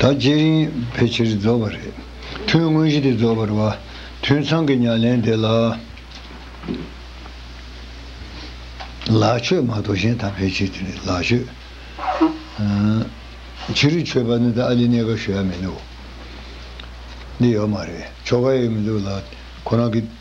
ད་རྗེས་རིང་ཕལ་ཆེར་རྫོགས་པ་རེད། ཐུན་དངོས་གཞི་དེ་རྫོགས་པར་བ། ཐུན་ཚང་གི་ཉམས་ལེན་དེ་ལ། ལག་ཆོད་མ་གཏོགས་གཞན་དག་ཕལ་ཆེར་དེ་ནི་ལག་ཆོད། ཕྱི་རུ་ཆོད་པ་ནི་ད་ཨ་ལི་གནས་སྐབས་ཞུ་ཡ་མི་འདུག་འདི་ཡོད་མ་རེད་ཆོ་ག་ཡོད་མི་འདུག་ལ་ཁོ་རང་གི།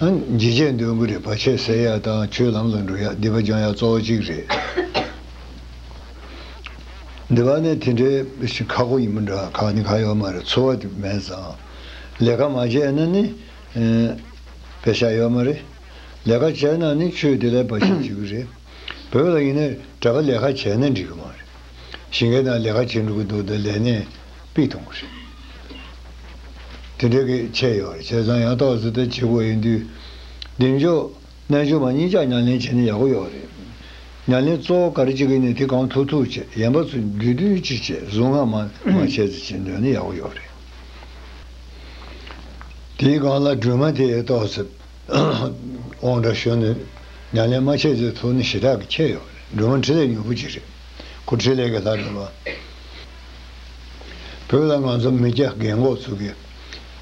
ལྗིད་ཆས་འདོན་གི་རེད་བར་ཆད་སེལ་ཡག་དང་ཆོས་ལམ་ལ་འགྲོ་ཡག་འདི་པ་སྦྱང་ཡག་གཙོ་བོ་གཅིག་རེད། འདི་བ་ནས་དེ་འདྲའི་ཁག་པོ་ཡིན་མི་འདྲ་ཁག་ནི་ཁག་ཡོག་མ་རེད་འཚོ་བ་དེ་མེད་ཙང་ལས་ཀ་མ་བྱས་ན་ནི་བེ་ཤ་ཡོག་མ་རེད་ལས་ཀ་བྱས་ན་ནི་ཆོས་དེ་ལས་བར་ཆད་བྱེད་གི་རེད་བོད་ལ་ཡིན་ན་གྲ་པ་ལས་ཁ་བྱས་ན་འགྲིག་གི་མ་རེད། ཞིང་ཁའི་ནང་ལས་ཀ་བྱེད་འགྲོ་གི་འདུག་ད་ལས་གནས་སྤི་གཏོང་གི་རེད། དེ་འདྲ་གི་ཆད་ཡོད་རེད་བྱས་ཙང་ཡང་ཏོག་ཙེ་ལྟར་བྱེད་དགོས་ཡིན་དུས། གདེང་འཇོག། རྣལ་འབྱོར་མ་གཉིས་ཅག་ཉམས་ལེན་བྱས་ན་ཡག་པོ་ཡོད་རེད། ཉམས་ལེན་གཙོ་བོ་ག་རེ་བྱེད་ཀྱི་ནི་དེ་གང་ཐུག་ཐུག་བྱེད་ཡན་པ་ཚོ་འདུས་འདུས་བྱེད་བྱེད་གཟུངས་སྔགས་མ་མ་བྱས་ཚེ་བྱེད་འདོད་ན་ཡག་པོ་ཡོད་རེད། དེའི་སྒང་ལ་སྒྲོལ་མ་དེས་ཏོག་ཙེ། དབང་དྲག་ཤོར་ནས་ཉམས་ལེན་མ་བྱས་ཚེ་ཐུགས་ནི་ཞེ་དྲག་གིས་ཁྱེར་ཡོང་བ་རེད་འགྲོ་མ་འཕྲིན་ལས་མྱུ་གུ་གཅིག་རེད་ཁུ་འཕྲིན་ལས་ཀྱི་ལྷ་འདྲ་བ། བོད་ལ་ང་ཚོ་མི་སྐྱ་རྒན་འགོག་ཚུགས་ཀྱི་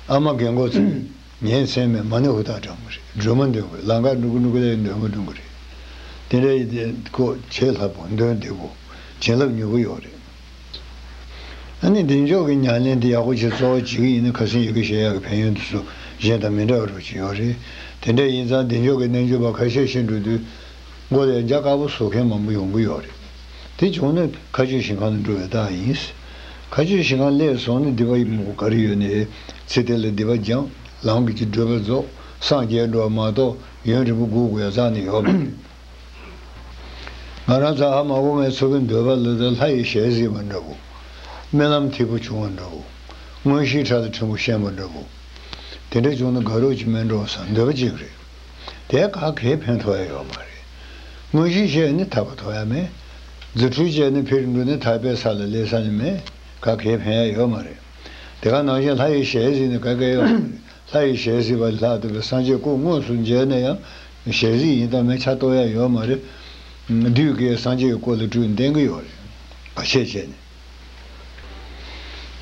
ཨ་མ་རྒན་འགོག་ཚུགས་ཀྱི་ཉའི་མཚན་མས་མ་ནི་ཧུར་ཐག་དྲངས་པ་རེད་སྒྲོལ་མ་འདོན་དགོས་ལང་ཀ་འགྲོ་གི་འགྲོ་གི་ལས་ཀྱི་འདོན་མ་འདོན་གི་རེད་དེ་འདྲ་ཡི་དེ་ཀོ་ཆེ་ལྷ་བུ་འདོན་དེ་བོ་བྱིན་རླབས་མྱུ་གུ་ཡོང་རེད། ཨ་ནི་འདི་འཇོག་གི་ཉྭ་ལེན་དེ་ཡག་པོ་བྱེད་གཙོ་བོ་བྱེད་གི་ཡིན་ན་ཁ་སེང་ཡོད་གི་ཞེ་ཡག་གི་ཕན་ཡོན་དུ་སུ་གཞན་དང་མི་འདྲ་བ་རུ་བྱེད་ཡོད་རེད་དེ་འདྲ་ཡིན་ཙང་འདི་འཇོག་གི་རྣལ་འབྱོར་པ་ཁ་ཤས་ཤི་འགྲོ་དུས་མགོ་ལས་འཇགས་དཀར་པོ་བཟོ་མཁན་མང་པོ་ཡོང་གི་ཡོད་རེད་དེ་བྱུང་ན་ཁ་སྤྱོད་ཞིང་ཁང་ལ་འགྲོ་བའི་རྟགས་ཡིན་ཁ་སྤྱོད་ཞིང་ཁང་ལས་སོང་ནས་འདི་པ་ཡིན་མོ་ག་རེ་ཡོད་ནས་ཚེ་དེ་ལ་འདི་པ་སྦྱངས་ལམ་གྱི་བགྲོད་པ་རྫོགས་སངས་རྒྱས་འགྲོ་བ་མ་གཏོགས་ཡོན་རིན་པོ་དགུ་དགུ་ཡང་ཙང་ནས་ཡོད་མ་རེད། ང་རང་ཚ་ཧ་མ་འོ་མའི་ཚོ་གི་འདོད་པ་ལ་དང་ལྷ་ཡི་ཞལ་གཟིགས་པ་འདྲ་བོ། རྨི་ལམ་འཐིབས་པོ་བྱུང་བ་འདྲ་བོ། དངོས་གཞིའི་ཕྲག་ཏུ་ཕྲན་བུ་ཤན་པ་འདྲ་བོ། དེ་འདྲ་བྱུང་ན་དགའ་རོགས་ཀྱི་སྨན་འགྲོ་སའང་འདོད་པ་གཅིག་རེད། དེས་ཁ་གས་ཕན་ཐོགས་ཡ་ཡོད་མ་རེད། དངོས་གཞིའི་ཞལ་ནི་ཐར་པ་ཐོགས་ཡ་མེད། རྫུ་འཕྲུལ་ཅན་ནི་ཕེར་འགྲོ་ནི་ཐར་པའི་ས་ལ་སླེབས་ས་ནི་མེད། ཁ་གས་ཕན་ཡ་ཡོད་མ་རེད། དེ་ག་ནང་བཞིན་ལྷ་ཡི་ཞལ་གཟིགས་ནི་ག་གས་ཡོད་མ་རེད། ལྷ་ཡི་ཞལ་གཟིགས་པ་ལྷ་དེ་བས་སངས་རྒྱས་སྐུ་དངོས་སུ་མཇལ་ན་ཡང་ཞལ་གཟིགས་ཡིན་སྟབས་མན་ཆ་གཏོར་ཡ་ཡོད་མ་རེད། དུས་དགེ་སངས་རྒྱས་ཀྱི་སྐོར་ལ་དྲུད་འདེང་གི་ཡོད་རེད། བར་ཆད་བྱས་ནས།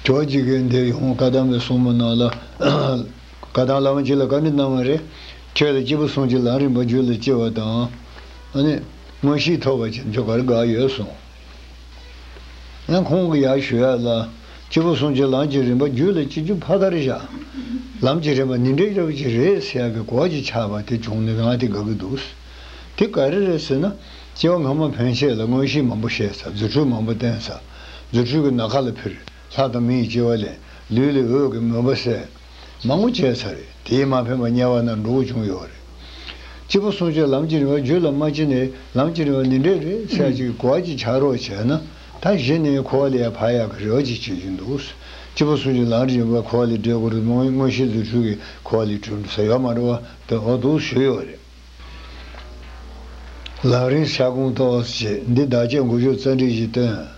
ཁྱོད་ཀྱིས་དགེ་འདས་ཡོངས་བཀའ་གདམས་པའི་གསུང་མ་གནང་ལ། བཀའ་གདམས་བླ་མ་གཅིག་ལ་བཀའ་འདྲི་གནང་བ་རེད། ཁྱོད་ལ་སྐྱིད་པོ་གསུངས་ཀྱི་ལམ་རིམ་པ་རྒྱུད་ལ་སྐྱེ་བ་དང། དངོས་གཞིའི་ཐོབ་པ་བྱས་ན་ཁྱོད་གར་དགའ་ཡོད་གསུངས། ཡང་ཁོང་གིས་ཡར་ཞུ་ཡ་ལ། སྐྱིད་པོ་སོང་ཅི་ལམ་གྱི་རིམ་པ་བརྒྱུད་ལ་སྐྱིད་རྒྱུ་ཕ་གར་བཞག། ལམ་གྱི་རིམ་པ་ནི་འདྲེ་རབ་ཅིག་རེད་ཟེར་གི་གོག་ཅིག་ཆགས་པ་དེ་བྱུང་ནས་ང་དེ་དགའ་གི་འདུག། དེ་ག་རེ་རེད་ཟེར་ན། སྐྱེ་བ་སྔ་མ་ཕན་ཆད་ལ་མངོན་ཤེས་མང་པོ་བཤད་ཚར་རྫུ་འཕྲུལ་མང་པོ་བསྟན་ཚར། རྫུ་འཕྲུལ་གྱི་ནགས་ཁ་ལ་ཕིར། ལྷ་དང་མི་ཡི་སྐྱེ་བ་ལེན། ལུས་ལས་འོད་ཀྱི་མུན་པ་བསལ། མང་བོ་བྱས་ཚར་རེད་དེས་མ་ཕན་པ་དམྱལ་བ་ན་འགྲོ་བོ་བྱུང་ཡོད་རེད། སྤྱི་བོ་བསྲུང་བྱའི་ལམ་གྱི་རིང་བ་རྒྱུད་ལ་མ་ཕྱིན་ནས་ལམ་གྱི་རིང་བ་ནི་འབྲས་རེད་ཚད་ཅིག་གོ་བ་གཅིག་བྱ་རོག་བྱས་ན་ད་གཞི་ནས་འཁོར་བ་ལས་ཡར་འཕར་ཡག་གི་རེ་བ་གཅིག་བྱེད་ཀྱིན་འདུག་སྤྱི་བོ་བསྲུང་བྱའི་ལམ་རིང་བ་འཁོར་བ་ལས་འབྲས་འཁོར་དངོས་གཞི་རྫུ་འཕྲུལ་གྱི་འཁོར་བ་ལས་གྲུབ་འདུག་ས་ཡོག་མ་འགྲོ་བ་དེ་འོ་འདུག་ཞུས་ཡོད་རེད། ལག་རིང་ཤ་ཀུང་ཏོག་ཨོས་བྱས་འདི་བདག་ཅག་མགོ་གཞུག་རྩ་འདྲིལ་གྱིས་སྟོན། བྱེད་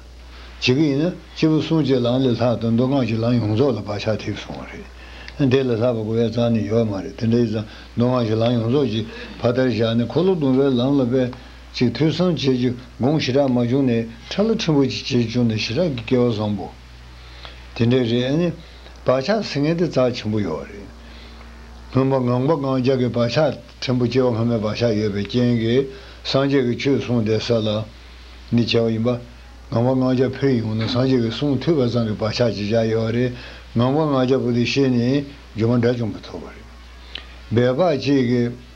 ཀྱི་ཡིན་ན་སྤྱི་བོ་གསུང་བཅས་ལམ་ལས་ལྷག་དོན་མདོ་སྒང་གི་ལམ་ཡོངས་རྫོགས་ལ་བག་ཆགས་ཐེབས་སོང་བ་རེད། དེ་ལས་ལྷག་པ་གོ་བའི་གཙང་ནི་ཡོད་མ་རེད་དེ་འདྲའི་གཙང་མདོ་སྒང་གི་ལམ་ཡོངས་རྫོགས་ཀྱི་ཕ་མཐར་བཞག་ནས་འཁོར་ལོ་བརྡུང་བའི་ལམ་ལ་པད་ཅིག་ཐོས་བསམ་བྱེད་རྒྱུ་དགོངས་ཞེ་དྲག་མ་བྱུང་ནས་ཁྲ་ལོ་ཕྲན་བུ་ཅིག་བྱེད་བཅུག་ནས་ཞེ་དྲག་གི་སྐལ་བ་བཟང་པོ། དེ་འདྲའི་རེད་ཨ་ནི། བག་ཆགས་ཟེར་མཁན་དེ་རྩ་ཆེན་པོ་ཡོད་རེད། སྔོན་མ་ངང་པ་ངང་རྒྱག་གི་བག་ཆགས་ཕྲན་བུ་སྐྱེ་བ་སྔ་མའི་བག་ཆགས་ཡོད་པའི་རྐྱེན་གྱིས་སངས་རྒྱས་ཀྱི་ཆོས་གསུངས་བསྡད་ས་ལ། ནི་བྱ་བ་ཡིན་པ། ངང་པ་ངང་རྒྱག་ཕེབས་ཡོང་ན་སངས་རྒྱས་ཀྱི་གསུང་ཐོས་པ་ཙང་གི་བག་ཆགས་ཅིག་ཅར་ཡོད་རེད། ངང་པ་ངང་རྒྱག་པོ་དེ་ཤེས་ནས་སྒྱུ་མ་འདྲ་ཅུང་པོ་ཐོབ་པ་རེད། སྦས་པ་གཅིག་གིས།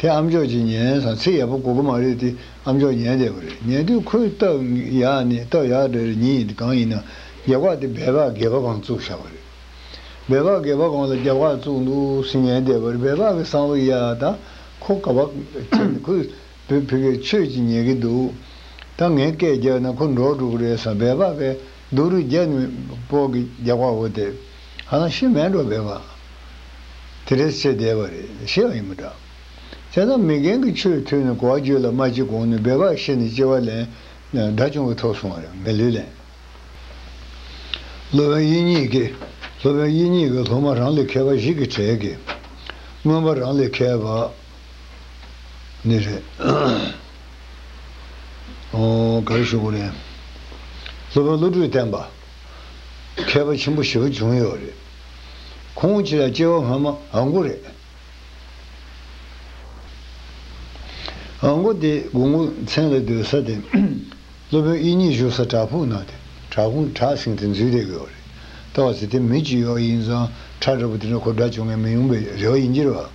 དེ་ཨམ་ཅོག་ཅིག་ཉན་ས་ཚེ་ཡས་པོ་གོ་གི་མ་རེད་དེ་ཨམ་ཅོག་ཉན་བསྡད་པ་རེད་ཉན་དུས་ཁོའི་རྟགས་ཡག་ནི་རྟགས་ཡག་དེ་རེད་ཉིན་གང་ཡིན་ན་རྒྱལ་བག་དེ་སྦས་བག་དགེ་བ་གང་བཙུགས་བཞག་པ་རེད་སྦས་བག་དགེ་བ་གང་ལ་རྒྱལ་བག་བཙུགས་འདུག་ཟེར་ཉན་བསྡད་པར་སྦས་བག་གི་སང་བའི་ཡ་ད་ཁོ་ག་བག་ཁྱེར་ནས་ཁོས་བོད་ཕི་གས་ཆོས་ཅིག་ཉན་གི་འདུག་ད་ངས་སྐད་རྒྱག་ན་ཁོ་འབྲོག་ཕྲུག་རེད་ས་སྦས་བག་གས། སྡུག་རུས་རྒྱ་ནི་སྤོག་གི་རྒྱག་པ་འོ་དེ། ཧང་ཤི་མས་འགྲོ་བས་མ། དེ་རེས་ཚེ་འདས་པ་རེད་ཤི་ཡང་ཡིན་མི་འདྲ། དེ་ན་མི་རྒན་གྱི་ཆོས་ཐོས་ནས་གོ་བ་བརྗོད་ལ་མ་ཅི་གོང་ནས་སྦས་པར་ཤི་ནས་སྐྱེ་བ་ལེན། དགྲ་བཅོམ་གྱི་ཐོག་སོང་བ་རེད་མི་ལུས་ལེན། སློབ་དཔོན་དབྱིག་གཉིས་ཀྱིས། སློབ་དཔོན་དབྱིག་གཉིས་ཀྱིས་སློབ་མ་རང་ལས་མཁས་པ་ཞིག་གི་གྲས་ཀྱིས། མངོན་པ་རང་ལས་མཁས་པ། ནི་རེད། ག་རེ་ཞུ་དགོས་རེད། སློབ་དཔོན་བློ་གྲོས་བསྟན་པ། མཁས་པ་ཆེན་པོ་བཞི་བ་བྱུང་ཡོད་རེད། ཁོང་ཁྱེད་ལ་སྐྱེ་བ་སྔ་མ་ཨ་མགོ་རེད། ཨ་མགོ་དེ་དགུང་སྐུ་མཚན་ལ་སྡོད་ས་དེ། སློབ་དཔོན་དབྱིན་གཉིས་བཞུགས་ས་བྲག་ཕུག་ན་དེ་བྲག་ཁུང་བྲག་གསེང་དེ་འཛུལ་བསྡད་ཡོད་རེད། ལྟ་བ་ཚེ་དེ་མི་གཅིག་ཡོད་ཡིན་ཙང་ཁྲ་འདྲ་པོ་དེ་འདྲ་ཁོ་འདྲ་བྱུང་ངེས་མི་ཡོང་པའི་རེ་བ་ཡིན་གྱི་རེད་བ།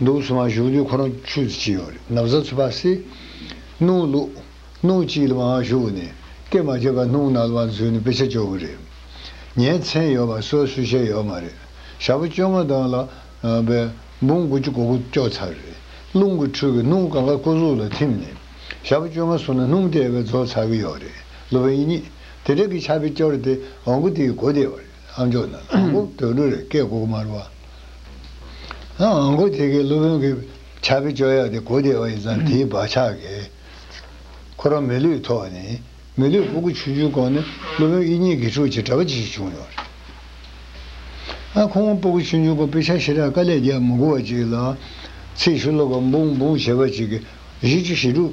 འདུག་ཚོད་མ་བཞུགས་དུས་ཁོ་རང་ཆུ་ཚོད་ཅི་ཡོང་རེད་ནབ་བཟའ་ཚོད་པ་སེ། སྣུང་བླུག། སྣུང་གཅིག་ལ་མ་འང་བཞུགས་ནས་སྐད་མ་བརྗོད་པར་སྣུང་ནག་ལ་མ་འཛུལ་ནས་དཔེ་ཆ་འཇོག་གི་རེད། ཉའི་མཚན་ཡོད་པ་སོ་སོས་ཤེས་ཡོད་མ་རེད། ཞག་པོ་བཅོ་ལྔ་དང་ལ། བའི། འབུམ་དགུ་བཅུ་གོ་གོ་ཅོག་ཚར་རེད། རླུང་གི་འཕྲུལ་གྱིས་སྣུང་གང་ག་སྐུ་གཟུགས་ལ་ཐིམ་ནས། ཞག་པོ་བཅོ་ལྔ་སོང་ན་སྣུང་དེ་བས་རྫོགས་ཚར་གི་ཡོད་རེད། ལོ་བའི་ཉིན། དེ་དག་གི་ཆ་བེད་སྐྱོར་དེ་འོང་གི་དེའི་གོ་བདེ་བ་རེད། ཨ་མཆོག་ནི་ཨ་མགོ་དོད་འགྲོ་རེད་སྐད་གོ་དམར་བ། ཨ་མགོ་དེ་གའི་སློབ་དཔོན་གྱི་ཕྱག་གི་སྤྱོད་ཡག་དེ་གོ་བདེ་བ་ཡིན་ཙང་དེའི་བག་ཆགས་ཀྱིས། ཁོ་རང་མི་ལུས་ཐོག་ནས་མི་ལུས་ཕུག་གུ་ཆུ་ཆུའི་གོང་ནས་སློབ་དཔོན་དབྱིག་གཉེན་དགེ་ཕྲུག་ཅིག་གྲྭ་པ་ཅིག་ཞིག་བྱུང་ཡོང་རེད། ཨ་ཁོང་ཕུག་གུ་ཆུ་ཆུའི་གོང་དཔེ་ཆ་ཤེས་རག་དཀའ་ལས་རྒྱག་མི་དགོ་བ་ཅིག་ལ། ཚེས་ཤུ་ལོ་བ་འབུང་འབུང་བྱེད་པ་ཅིག་གིས་བཞི་བཅུ་ཞེ་དྲུག།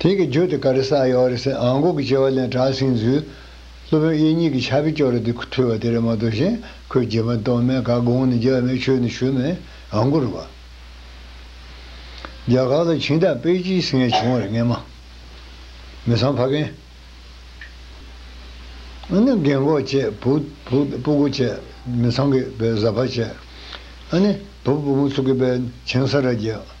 དེང་གི་རྒྱུད་དེ་ཀ་རེ་ས་ཡོ་རེ་སེ་ཨང་གོ་གི་བྱེ་བ་ལན་གྲགས་ཟིན་ཚུལ། སློབ་དཔོན་དབྱེ་གཉིས་ཀྱི་ཕྱག་དཔེ་ཅོག་རེ་དེ་ཐོས་པ་དེ་རེ་མ་གཏོགས་གཞན་ཁོས་རྗེ་མ་གཏོགས་མེད་ག་དགོངས་ནས་རྒྱ་མའི་ཆོས་ནི་ཞུས་མེད་ཨང་གོ་རུ་བ། རྒྱ་གར་ལ་ཕྱིན་སྟབས་པེ་ཅིའི་སིང་ངེ་བྱུང་བར་ངེས་མ། མི་ཚང་ཕ་རྒན། ཨ་ནི་རྒན་འགོ་བཅས་བུ་སྤུ་གུ་བཅས་མི་ཚང་གི་བས་བཟའ་ཕ་བཅས་ཨ་ནི་བུ་སྤུ་མོ་ཚུགས་ཀྱི་བས་བྱིང་ས་ར་བརྒྱད།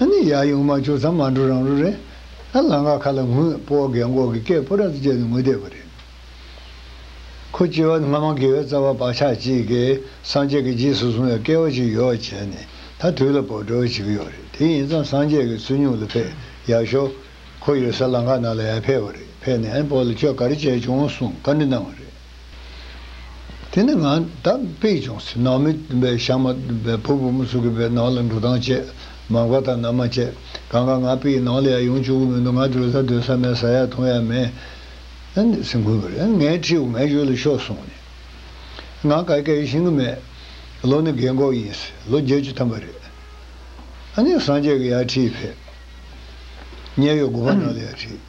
ཨ་ནི་ཡག་ཡོང་མ་བྱུང་ཙང་མ་འགྲོ་རང་རོ་རེད། ཨ་ལང་ཀ་ཁ་ལ་ངུས་སྤོ་བ་གས་འགོག་གི་སྐད་སྤོ་ར་ཙི་བཅད་ནས་ངུས་བསྡད་པ་རེད། ཁོ་སྐྱེ་བ་སྔ་མ་དགེ་བའི་རྩ་བ་བག་ཆགས་གཅིག་གིས་སངས་རྒྱས་ཀྱི་རྗེས་སུ་བཟུང་བའི་སྐལ་བ་ཅིག་ཡོད་བྱས་ནས་ད་དུས་ལ་བོར་འགྲོ་བ་བྱེད་ཀྱི་ཡོད་རེད་དེ་ཡིན་ཙང་སངས་རྒྱས་ཀྱི་ཚུལ་ཉུང་ལ་ཕེ་ཡག་ཤོག་ཁོ་ཡོད་ས་ལང་ཀ་ནང་ལ་ཡ་ཕེ་བ་རེད་ཕེ་ནས་ཨན་སྤོ་ལ་ཁྱོད་ག་རེ་བྱས་བྱུང་གསུངས་བཀའ་འདྲི་གནང་བ་རེད། དེ་ནས་ང་ད་པེ་ཅོང་སི་ནང་མི་བའི་ཤང་མ་བའི་བུ་བུ་མོ་ཚུག་གི་པའི་ནང་ལ་འགྲོ་སྟངས་བཅས་མང་བ་དང་ནམ་མ་བཅད་གང་ག་ང་པེ་ཡི་ནང་ལ་ཡ་ཡོང་བཅུག་གི་མི་འདུག་ང་སྡོད་ས་སྡོད་ས་མེད་ས་ཡ་ཐུང་ཡ་མེད། སེམས་ཁུར་བར་ངའི་ཁྲིའུ་ངའི་གཞུག་ལ་ཤོག་གསུངས་ནས། ང་ག་གེ་རེ་ཤིང་གི་མེད། ལོ་ནི་རྒས་འགོག་ཡིན་སྲིད་ལོ་བརྒྱད་ཅུ་ཐམ་པ་རེད། ཨ་ནེ་སངས་རྒྱས་ཀྱི་ཡ་ཁྲིའི་ཕེབས། ཉེ་ཡོད་དགུ་པ་ནང་ལ་ཡ་ཁྲིའི།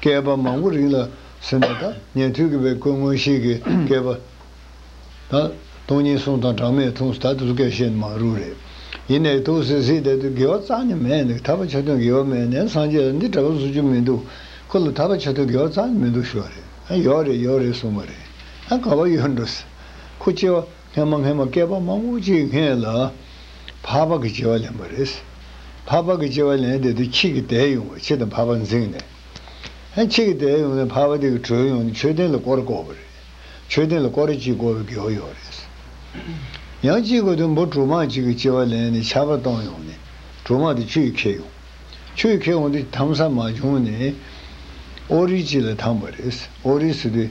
བསྐལ་པ་མང་པོ་རིང་ལ་ཟིན་པ་དང་ཉན་ཐོས་ཀྱི་བའི་སྐུ་མངོན་ཤེས་ཀྱི་བསྐལ་པ་དང། སྟོང་ཉིད་གསུང་དང་གྲངས་མེད་མཐོང་ཟད་དུ་སྐལ་བཤད་ནི་མང་རུང་རེད། ཡིན་ནའི་ཐུགས་སེ་སེའི་དད་དུ་དགེ་བ་གཙང་ནི་མེད་འདུག་ཐར་པ་ཆ་མཐུན་དགེ་བ་མེད་ནའི་སངས་རྒྱས་ལ་འདི་འདྲ་བ་བཟོ་རྒྱུ་མི་འདུག་ཁོ་ལ་ཐར་པ་ཆ་མཐུན་དགེ་བ་གཙང་ནི་མི་འདུག་ཞོ་རེད་ཡོག་རེད་ཡོག་རེད་གསུངས་པ་རེད་ཨ་ག་བ་ཡོད་འགྲོ་སེ་ཁོ་སྐྱེ་བ་སྔན་མ་སྔན་མ་བསྐལ་པ་མང་པོ་ཅིག་སྔས་ལ། འཕགས་པ་གི་སྐྱེ་བ་ལེན་པ་རེད། འཕགས་པ་གི་སྐྱེ་བ་ལེན་དེ་དུས་ཁྱེད་ཀྱི་དད་ཡོང་བས་ཁྱེད་དང་འཕགས་པ་འཛིངས་ནས། ཧན་ཁྱེད་ཀྱི་དད་ཡོང་ནས་འཕགས་པ་དེ་གི་གྲོས་ཡོང་ནས་མཆོད་རྟེན་ལ་བསྐོར་བསྐོར་བ་རེད། མཆོད་རྟེན་ལ་བསྐོར་རེ་གཅིག་བསྐོར་བའི་དགེ་བ་ཡོང་རེད། ཡང་གཅིག་བསྐོར་དུས་འབུ་གྲུ་མང་ཅིག་གི་སྐྱེ་བ་ལེན་ནས་ཆར་པ་གཏོང་ཡོང་ནས་གྲུ་མང་དེ་ཆུ་ཡིས་ཁེགས་ཡོང། ཆུ་ཡིས་ཁེགས་ཡོང་དུས་དམ་ས་མ་བྱུང་ནས། ཨོ་རིལ་གཅིག་ལ་འཐམས་པ་རེད། ཨོ་རིལ་སོས་དུས།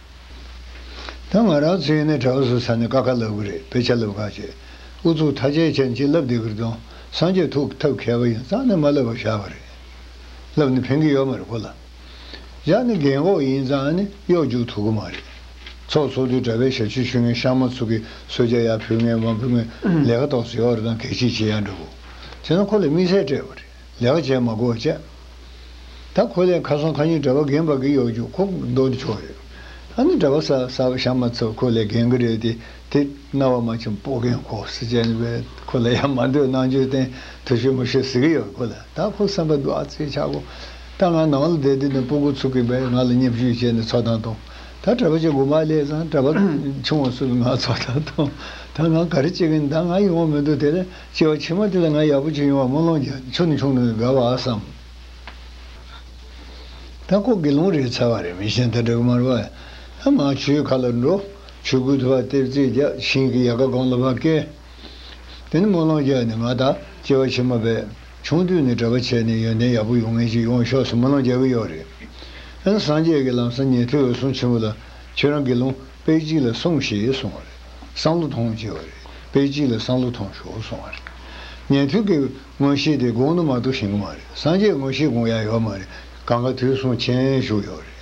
ད་ང་རང་ཚོའི་ནས་གྲྭ་བ་སུ་ས་ནས་ཀ་ཁ་ལབ་གི་རེད་དཔེ་ཆ་ལབ་གང་བྱེད་ཨུ་ཚུགས་ཐ་ཆད་ཅན་གྱིས་ལབ་བསྡད་གི་རེད་དོན་སངས་རྒྱས་ཐུགས་ཐབས་མཁས་པ་ཡིན་ཙང་ནས་མ་ལབ་པར་བཞག་པ་རེད་ལབ་ནས་ཕན་གི་ཡོད་མ་རེད་གོ་ལ་བཞག་ནས་རྒན་གོག་ཡིན་ཙང་ནས་གཡོག་རྒྱུག་ཐུབ་གི་མ་རེད་ཚོགས་ཚོགས་དུས་གྲྭ་བའི་ཞབས་ཕྱི་ཞུ་མཁན་ཤང་མ་ཚུགས་གི་སོ་རྒྱ་ཡག་ཕུལ་མཁན་མ་ཕུལ་མཁན་ལས་ཀ་ཏོག་ཙེ་ཡོག་རེད་དང་གལ་ཆེ་ཆེ་ཡག་འདྲ་བོ་བྱེད་ན་ཁོ་ལ་དམིགས་བསལ་སྤྲད་པ་རེད། ལེགས་བྱས་མ་གོ་བཅད། ད་ཁོ་ལས་ཁ་སང་ཁ་ཉིན་གྲྭ་པ་རྒན་པ་གི་གཡོག་རྒྱུག་ཁོག་འདོག་འདི་ཆོག་རེད། ཨ་ནི་གྲྭ་པ་ས་ས་ཞག་མ་ཚོ་ཁོ་ལས་རྒན་གི་རེད་དེ་དེ་རྣ་བ་མ་ཆུང་སྤོ་རྒན་ཁོག་ཟི་ཅན་བས་ཁོ་ལ་ཡ་མ་འདོད་ནང་ཆོས་བསྟན་དུ་ཤོད་མི་ཤོད་ཟེར་གི་ཡོད་ཁོ་ལ་ད་ཁོ་བསམ་པ་འདུག་ཨ་ཙི་ཆག་གོ་ད་ང་ནང་ལ་བསྡད་དེ་ནས་སྤོ་དགོ་ཚུག་གི་བས་ང་ལ་མཉེབ་ཞུས་བྱས་ནས་ཚོགས་ཐང་བཏང་ད་གྲྭ་པ་ཆེ་གོ་མ་ལས་བཟང་གྲྭ་པ་ཆུང་བ་ཚོ་ལ་ང་ཚོགས་ཐང་བཏང་ད་ང་ག་རེ་བྱེད་གི་ཡིན་ད་ང་ཡོང་བ་མི་འདུག་དེ་ལས། སྐྱེ་བ་ཕྱི་མ་དེ་ལ་ང་ཡག་པོ་ཅིག་ཡོང་བར་སྨོན་ལོང་བརྒྱ་མཆོད་ནི་ཆུང་ནུ་ཡི་དགའ་བ་བསམ། ད་ལྐོག་དགེ་སློང་རེད་ཚར་བ་རེད་མི་གཞན་ད་དྲག་དམར་བ། ང་ཆུའི་ཁ་ལ་འགྲོ། ཆུ་སྐུད་ཐུ་བ་ལྟེབ་རྩེག་རྒྱག་ཤིང་གི་ཡལ་ག་སྒང་ལ་བ་ཀའི། དེ་ནི་སྨོན་ལོང་བརྒྱ་ནི་ང་ད་སྐྱེ་བ་ཕྱི་མ་བས། ཆུང་དུས་ནས་གྲྭ་པ་བྱས་ནས་ཡོན་ཏན་ཡག་པོ་ཡོང་ངེས་ཅིག་ཡོང་ཤོག་སུ་སྨོན་ལོང་བརྒྱ་གི་ཡོག་རེད། ཨན་སངས་རྒྱས་ཀྱི་ལམ་སང་ཉན་ཐོས་འོད་སྲུང་ཆེན་པོ་ལ་ཁྱོད་རང་དགེ་སློང་དཔེ་གཅིག་ལ་སོང་ཞེས་གསུངས་བ་རེད། སང་ལོ་ཐོངས་བྱས་བ་རེད། པེ་ཅིན་ལ་སང་ལོ་ཐོངས་ཞོག་གསུངས་བ་རེད། ཉན་ཐོས་ཀྱི་མངོན་ཤེས་དེ་དགོངས་ནོ་མ་གཏོགས་ཞེན་གྱི་མ་རེད། སངས་རྒྱས་མངོན་ཤེས་དགོངས་ཡག་ཡོད་མ་རེད། གང་ག་དུས་གསུངས་མཁྱེན་བཞུགས་ཡོད་རེད།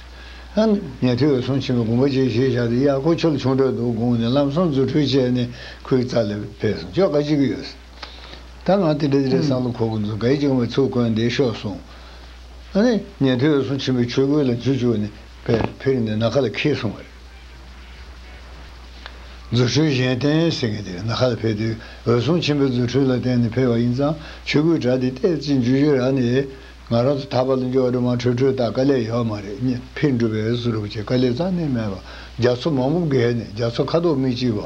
ཨང། ཉན་ཐོས་འོད་སྲུང་ཆེན་པོའི་དགོངས་པ་བཅས་བཞེས་བཞག་དེ་ཡག་གོ་ཆོལ་ཆུང་གྲོས་བསྡུར་དགོངས་ནས་ལམ་སང་རྫུ་འཕྲུལ་བཅས་ནས་ཁུལ་རྩ་ལ་ཕེབས་སོང་ཅོག་ག་ཅིག་གི་ཡོད་ཟེར། ད་ང་དེ་འདྲ་དེ་འདྲ་སང་ལོ་ཁོ་གོ་འཛུགས་གལ་ཅིག་ཡོང་བའི་ཚུལ་བཀོད་བསྡད་ཤོག་གསུངས། ཨང། ཉན་ཐོས་འོད་སྲུང་ཆེན་པོའི་ཆོས་གོས་ལ་རྫུ་བཅུག་ནས་ཕེར་ནས་ནཱ་ག་ལ་ཁེལ་སོང་བ་རེད། རྫུ་འཕྲུལ་གཞན་བརྟེན་ཟེར་མཁན་དེ་ནགས་ཁ་ལ་ཕེབས་དུས་འོད་སྲུང་ཆེན་པོའི་རྫུ་འཕྲུལ་ལ་བརྟེན་ནས་ཕེབས་པ་ཡིན་ཙང་ཆོས་སྐུའི་གྲྭ་འདི་གཏེར་གཅིག་འཇུ་ཆོས་ར་ནས་ང་རང་ཚོ་ད་བར་དུ་འབྱོར་བ་དུ་མ་འཕྲོས་འཕྲོས་དག་དཀའ་ལས་ཡོད་མ་རེད་སྙེ་ཕིར་འགྲུབ་པའི་སུ་རུབ་ཅེས་དཀའ་ལས་རྩ་ནས་མེད་པ་རྒྱ་མཚོ་མང་པོ་བརྒལ་ནས་རྒྱ་མཚོ་ཁ་དོག་མིག་གཅིག་པ་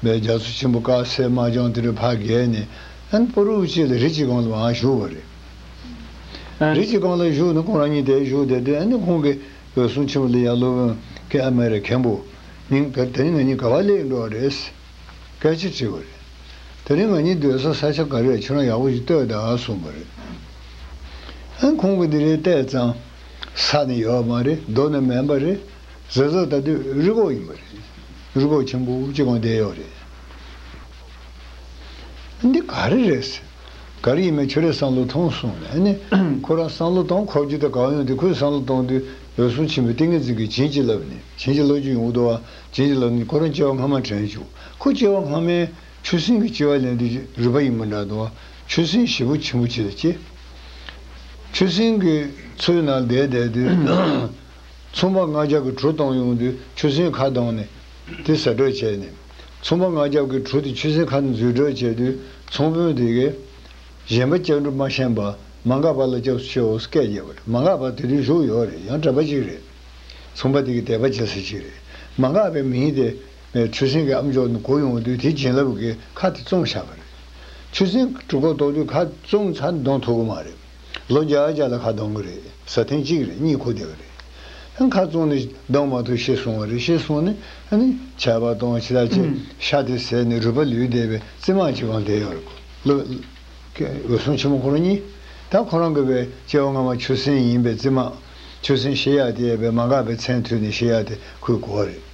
བས་རྒྱ་མཚོ་ཆེན་པོ་དཀར་སེར་དམར་ལྗང་དེ་རུ་ཕར་བརྒལ་ནས་ཨན་པོ་རུ་ཅེས་ལ་རི་གཅིག་གང་ལའང་བཞུགས་པ་རེད། རི་གཅིག་གང་ལ་བཞུགས་ན་ཁོང་རང་ཉིད་དེར་བཞུགས་བསྡད་དུས་ཨན་ནི་ཁོང་གི་བོད་སོང་ཆེ་བ་ལས་ཡར་སློབ་དབོན་གྱི་ཨ་མའི་རེ་མཁན་པོ་ཉིད་འགར་དེ་རིང་ང་གཉིས་ག་བ་ལས་འགྲོ་བ་རེད། སྐད་ཆ་དྲིས་པ་རེད། དེ་རིང་ང་གཉིས་སྡོད་ས་ས་ཆ་ག་རེ་ཁྱོད་རང་ཡག་པོ་ཞིག་ལྟོས་དང་གསུངས་པ་རེད། ཨ་ཁོང་གིས་འདི་རེད་བལྟས་ཙང། ས་ནི་ཡོད་མ་རེད་རྡོ་ནི་མེད་པ་རེད། ཟེར་ཟོ་ད་དུས་རི་གོག་ཡིན་པ་རེད། རི་གོག་ཆེན་པོ་གཅིག་གང་བསྡད་ཡོད་རེད། འདི་ག་རེ་རེད། ག་རེ་ཡིན་མིན་ཁྱོད་རས་བསམ་བློ་ཐོངས་གསུངས་ནས་ནི། ཁོ་རང་བསམ་བློ་གཏོང་ཁོག་རྒྱུ་དང་གང་ཡོང་དེ་ཁོས་བསམ་བློ་གཏོང་དུས་འོད་སྲུང་ཆེན་པོའི་ཏིང་ངེ་འཛིན་གྱིས་བྱིན་གྱིས་བརླབས་ནས་བྱིན་གྱིས་རློབ་རྒྱུ་ཡོང་དུ་བ་བྱིན་གྱིས་བརླབས་ནས་ཁོ་རང་སྐྱེ་བ་སྔ་མ་དྲན་བཅུག་ཁོ་སྐྱེ་བ་སྔ་མའི་ཆུ་སྲིན་གྱི་ལྕི་བ་ལེན་དུས་ཀྱི་རུས་པ་ཡིན་པ་འདྲ་དུ་བ་ཆུ་སྲིན་བཞི་པོ་ཆེན་པོ་ཆེ་ལ་སྐྱེས། ཆུ་སྲིན་གྱི་ཚུལ་ནང་བསྡད་བསྡད་དུས། མཚུངས་པ་ལྔ་བརྒྱ་གི་གྲུ་བཏང་ཡོང་དུས་ཆུ་སྲིན་ཁ་གདངས་ནས་དེ་ཟ་གྲོད་བྱས་ནས། ཚོང་པ་ང་རྒྱབ་ཀྱི་གྲུ་དེ་ཆུ་སྲིན་ཁ་ནས་འཛུལ་སྒྲོལ་བྱས་དུས་ཚོང་དཔོན་དེ་གས། གཞན་པ་ལྕགས་འབྲུ་མ་ཤན་པ་མ་འགག་པ་ལ་སྐྱབས་སུ་མཆིའོ་སྐད་རྒྱབ་པ་རེད་མ་འགག་པ་དེ་དུས་བཞུགས་ཡོད་རེད་ཡང་དྲན་པ་གཅིག་རེད། ཚོང་པ་དེ་གས་དད་པ་བྱེད་ས་གཅིག་རེད་མ་འགག་པའི་མིང་དེ། ཆུ་སྲིན་གྱི་ཨམ་ཅོག་ནས་གོ་ཡོང་དུས་དེ་བྱིན་རླབས་ཀྱིས་ཁ་དེ་བཙོང་བཞག་པ་རེད། ཆུ་སྲིན་གྲུ་གོ་ལྡོག་དུས་ཁ་བཙོང་ཚར་འདོང་ཐུབ་ཀྱི་མ་རེད། ལོ་བརྒྱ་བརྒྱ་ལ་ཁ་གདང་གི་རེད་ས་ཐེངས་གཅིག་རེད་གཉིས་གོ་བདེ་བ་རེད་ཁ་བཙོང་ནས་གདང་མ་ཐུག་ཤེས་སོང་བ་རེད་ཤེས་སོང་ནས་ནི་ཆད་པ་གཏོང་ཕྱི་ལ་བཅད་ཤ་དེ་ཟས་ནི་རུས་པ་ལུས་བདེ་བའི་རྩི་མང་གཅིག་གང་བདེ་ཡོད་རེད་ལོ། འོད་སྲུང་ཆེན་མོ་ཁོ་རང་གཉིས་ད་ཁོ་རང་གི་བའི་སྐྱེ་བ་སྔ་མ་ཆུ་སྲིན་ཡིན་པའི་རྩི་མང་ཆུ་སྲིན་ཤེས་ཡག་དེ་ཡས་པའི་མ་འགགས་པའི་མཚན་མཐུད་ནས་ཤེས་ཡག་དེ་ཁོའི་གོ་བ་རེད།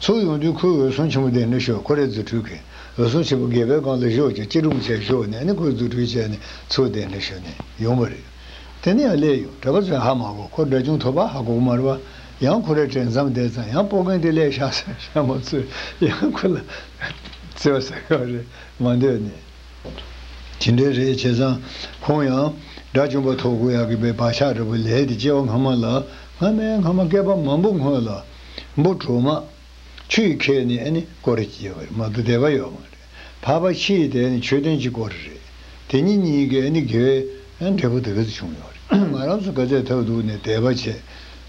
ཚུར་ཡོང་དུས་ཁོའི་འོད་སྲུང་ཆེན་མོ་དེ་ནི་ཤོ་ཁོ་རེད་རྫུ་འཕྲུལ་གྱིས་འོད་སྲུང་ཆེན་པོ་སྒལ་པའི་སྒང་དུ་བཞོག་ཅིང་ཅི་དྲུང་ཆེ་ཤོས་ནས་ནི་ཁོས་རྫུ་འཕྲུལ་བྱས་ནས་ཚུར་དེ་ནི་ཤོ་ནས་ཡོང་བ་རེད། དེ་ནི་ཡང་སླེ་ཡོང་གྲྭ་པ་ཚོས་ཧ་མ་གོ་ཁོ་འདྲ་ཅུང་ཐོ་པ་ཧ་གོ་མར་བ། ཡང་ཁོ་རེ་དྲན་མཚམས་དེ་ཙམ་ཡང་སྤོ་མཁན་དེ་སླེ་ཤག་སེར་ཤ་མོ་ཚོས་ཡང་ཁོ་ལ་བརྩེ་བ་ཟ་གི་བ་རེད་མ་འདོད་ནས། ཇི་འདྲའི་རེད་བྱས་ཙང་ཁོང་ཡང་དགྲ་བཅོམ་པ་ཐོག་གུ་ཡག་གི་པའི་བག་ཆགས་འདྲ་བོ་ལས་དེ་སྐྱེ་བ་སྔ་མ་ལ་སྔ་མའི་སྔ་མ་སྐལ་པ་མང་པོ་སྔོན་ལ། འབུ་དྲུག་མ། ཆུ་ཡི་ཁལ་ནི་ཨེ་ནི་ཀོ་རེ་སྐྱེས་པ་རེད་མ་དུ་དད་པ་ཡོད་མ་རེད་བྷ་བྷ་ཕྱི་ཡི་དེ་ནི་མཆོད་རྟེན་གྱི་ཀོ་རེ་རེད་དེ་གཉིས་གཉིས་ཀའི་ཨེ་ནི་དགེ་བའི་འབྲས་བུ་དེ་ག་ཚོད་བྱུང་ཡོད་རེད་ང་རང་ཚོ་སྐལ་ལྡན་ཐབས་རྡུགས་ནས་དད་པ་བྱས་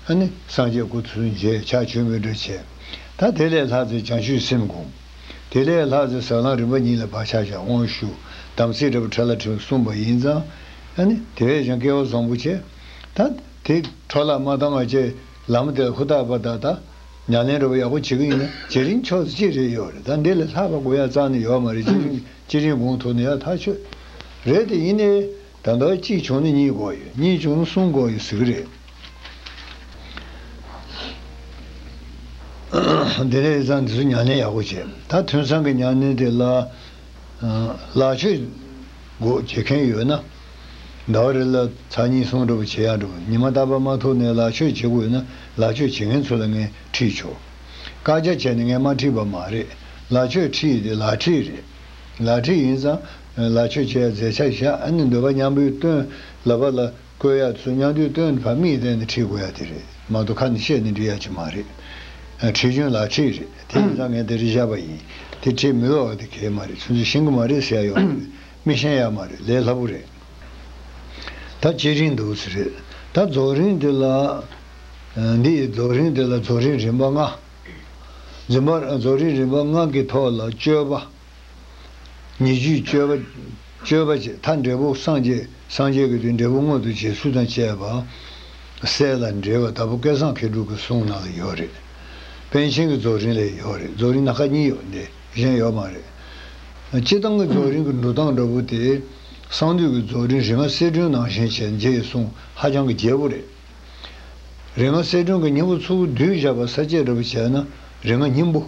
ཨེ་ནི་སངས་རྒྱས་སྐུ་ཚུལ་མཇལ་ཕྱག་ཆོས་འབུལ་འདྲ་བྱས་ད་དེ་ལས་ལྷག་ཚེ་བྱང་ཆུད་སེམས་དགུང་དེ་ལས་ལྷག་ཚེ་ཟབ་ལམ་རིམ་པ་གཉིས་ལ་བག་ཆགས་བྱ་འོང་ཞུ་དམ་ཚིག་འདྲ་བ་ཕྲ་ལ་ཕྲན་གསུངས་པ་ཡིན་ཙང་ཨེ་ནི་དེ་བས་ཀྱང་སྐལ་བ་བཟང་པོ་བྱས་ད་དེ་འཕྲོ་བརླག་མ་བཏང་བ་བཅས། ལམ་དེར་ཧུར་ཐག་པར་ད་ལྟ་མྱ་ལན་རོགས་ཡག་པོ་བྱེད་ཀྱི་ཡིན་ན་བྱེད་རིན་ཆོག་ཚེ་ཅི་རེད་ཡོག་རེད་ད་འདི་ལས་ལྷག་པ་དགོས་ཡག་གཙང་ནི་ཡོག་མ་རེད་ཅི་རིན་ཅི་རིན་དགོངས་ཐོག་ནི་ཡག་ཐག་ཆོད་རེད་དེ་ཡིན་ནའི་ད་མདོག་གཅིག་བྱུང་ནི་གཉིས་གོ་ཡོད་གཉིས་བྱུང་ནི་གསུམ་གོ་ཡོད་ཟིག་རེད་དེ་ལས་གཙང་འདི་ཚོ་མྱ་ལན་ཡག་པོ་བྱེད་ད་དོན་ཚང་གི་མྱ་ལན་དེ་ལག་ཆོད་དགོས་བྱེད་མཁན་ཡོད་ན། ཟླ་བ་རེ་ལ་ཚར་གཉིས་སོང་འདྲ་པོ་བྱེད་ཡག་འདྲ་པོ་ཉི་མ་རྟག་པར་མ་ཐུག་ནས་ལག་ཆོད་བྱེད་དགོས་ན་ལག་ཆོད་བྱེད་མཁན་ཚོ་ལ་ངས་ཁྲིད་ཆོག་བཀག་རྒྱ་བྱས་ནས་ངས་མ་ཁྲིད་པ་མ་རེད་ལག་ཆོད་ཁྲིད་དེ་ལག་ཁྲིད་རེད་ལག་ཁྲིད་ཡིན་ཙང་ལག་ཆོད་བྱེད་ཡག་རྫས་ཆ་བཞག་ནས་འདོད་པ་མཉམ་པོའི་སྟོན་ལ་བ་ལ་བཀོལ་ཡག་ཚུལ་མཉམ་དུས་སྟོན་བར་མིག་བལྟས་ནས་ཁྲིད་དགོས་ཡག་དེ་རེད་མང་དུ་ཁ་ནས་བཤད་ནས་འབྲི་ཡག་ཅིག་མ་རེད་ཁྲིད་རྒྱུན་ལག་ཁྲིད་རེད་དེ་ཡིན་ཙང་ངས་དེ་རེ་བཞག་པ་ཡིན་དེ་ཁྲིད་མི་ཡོག་གི་དེ་གལ་མ་རེད་ཚུལ་འཛིན་ཤིང་གི་མ་རེད་ཟེར་ཡག་ཡོང་གི་རེད་མི་ཤེས་ཡ་མ་རེད་ལས་སླ་པོ་རེད། ད་བྱེད་རིན་འདུག་རེད་ད་རྫོགས་རིན་འདི་ལ། འདི་ཡི་རྫོགས་རིན་འདི་ལ་རྫོགས་རིན་རིམ་པ་ལྔ། འཛིན་པ་རྫོགས་རིན་རིམ་པ་ལྔ་གི་ཐོག་ལ་སྤྱོད་པ། ཉེ་རྒྱུའི་སྤྱོད་པ། སྤྱོད་པ་ཅེས་ཐ་འབྲས་བུ་སངས་རྒྱས་སངས་རྒྱས་ཀྱི་དུས་འབྲས་བུ་མངོན་དུ་བྱས་ཚུལ་དང་བཅས་པ། གསལ་ལ་འགྲེལ་བ་ལྟ་བུ་སྐལ་བཟང་མཁས་གྲུབ་ཀྱི་གསུང་ནང་ལ་ཡོད་རེད། པཎ་ཆེན་གྱི་རྫོགས་རིན་ལས་ཡོད་རེད་རྫོགས་རིན་སྣ་ཁ་གཉིས་ཡོད་དེ། གཞན་ཡོད་མ་རེད། སྤྱི་བཏང་གི་རྫོགས་རིམ་གྱི་འགྲོ་སྟངས་འདྲ་བོ་དེ། གསང་འདུས་ཀྱི་རྫོགས་རིམ་རེ་ང་གསལ་སྒྲོན་ནང་བཞིན་བྱས་རྗེས་གསུང་ཧ་ཅང་གི་རྒྱས་པོ་རེད། རེ་ང་གསལ་སྒྲོན་གྱི་སྙིང་པོ་ཚོགས་བསྡུས་བཞག་པ་ས་བཅད་འདྲ་བོ་བྱས་ན་རེ་ང་སྙིང་པོ།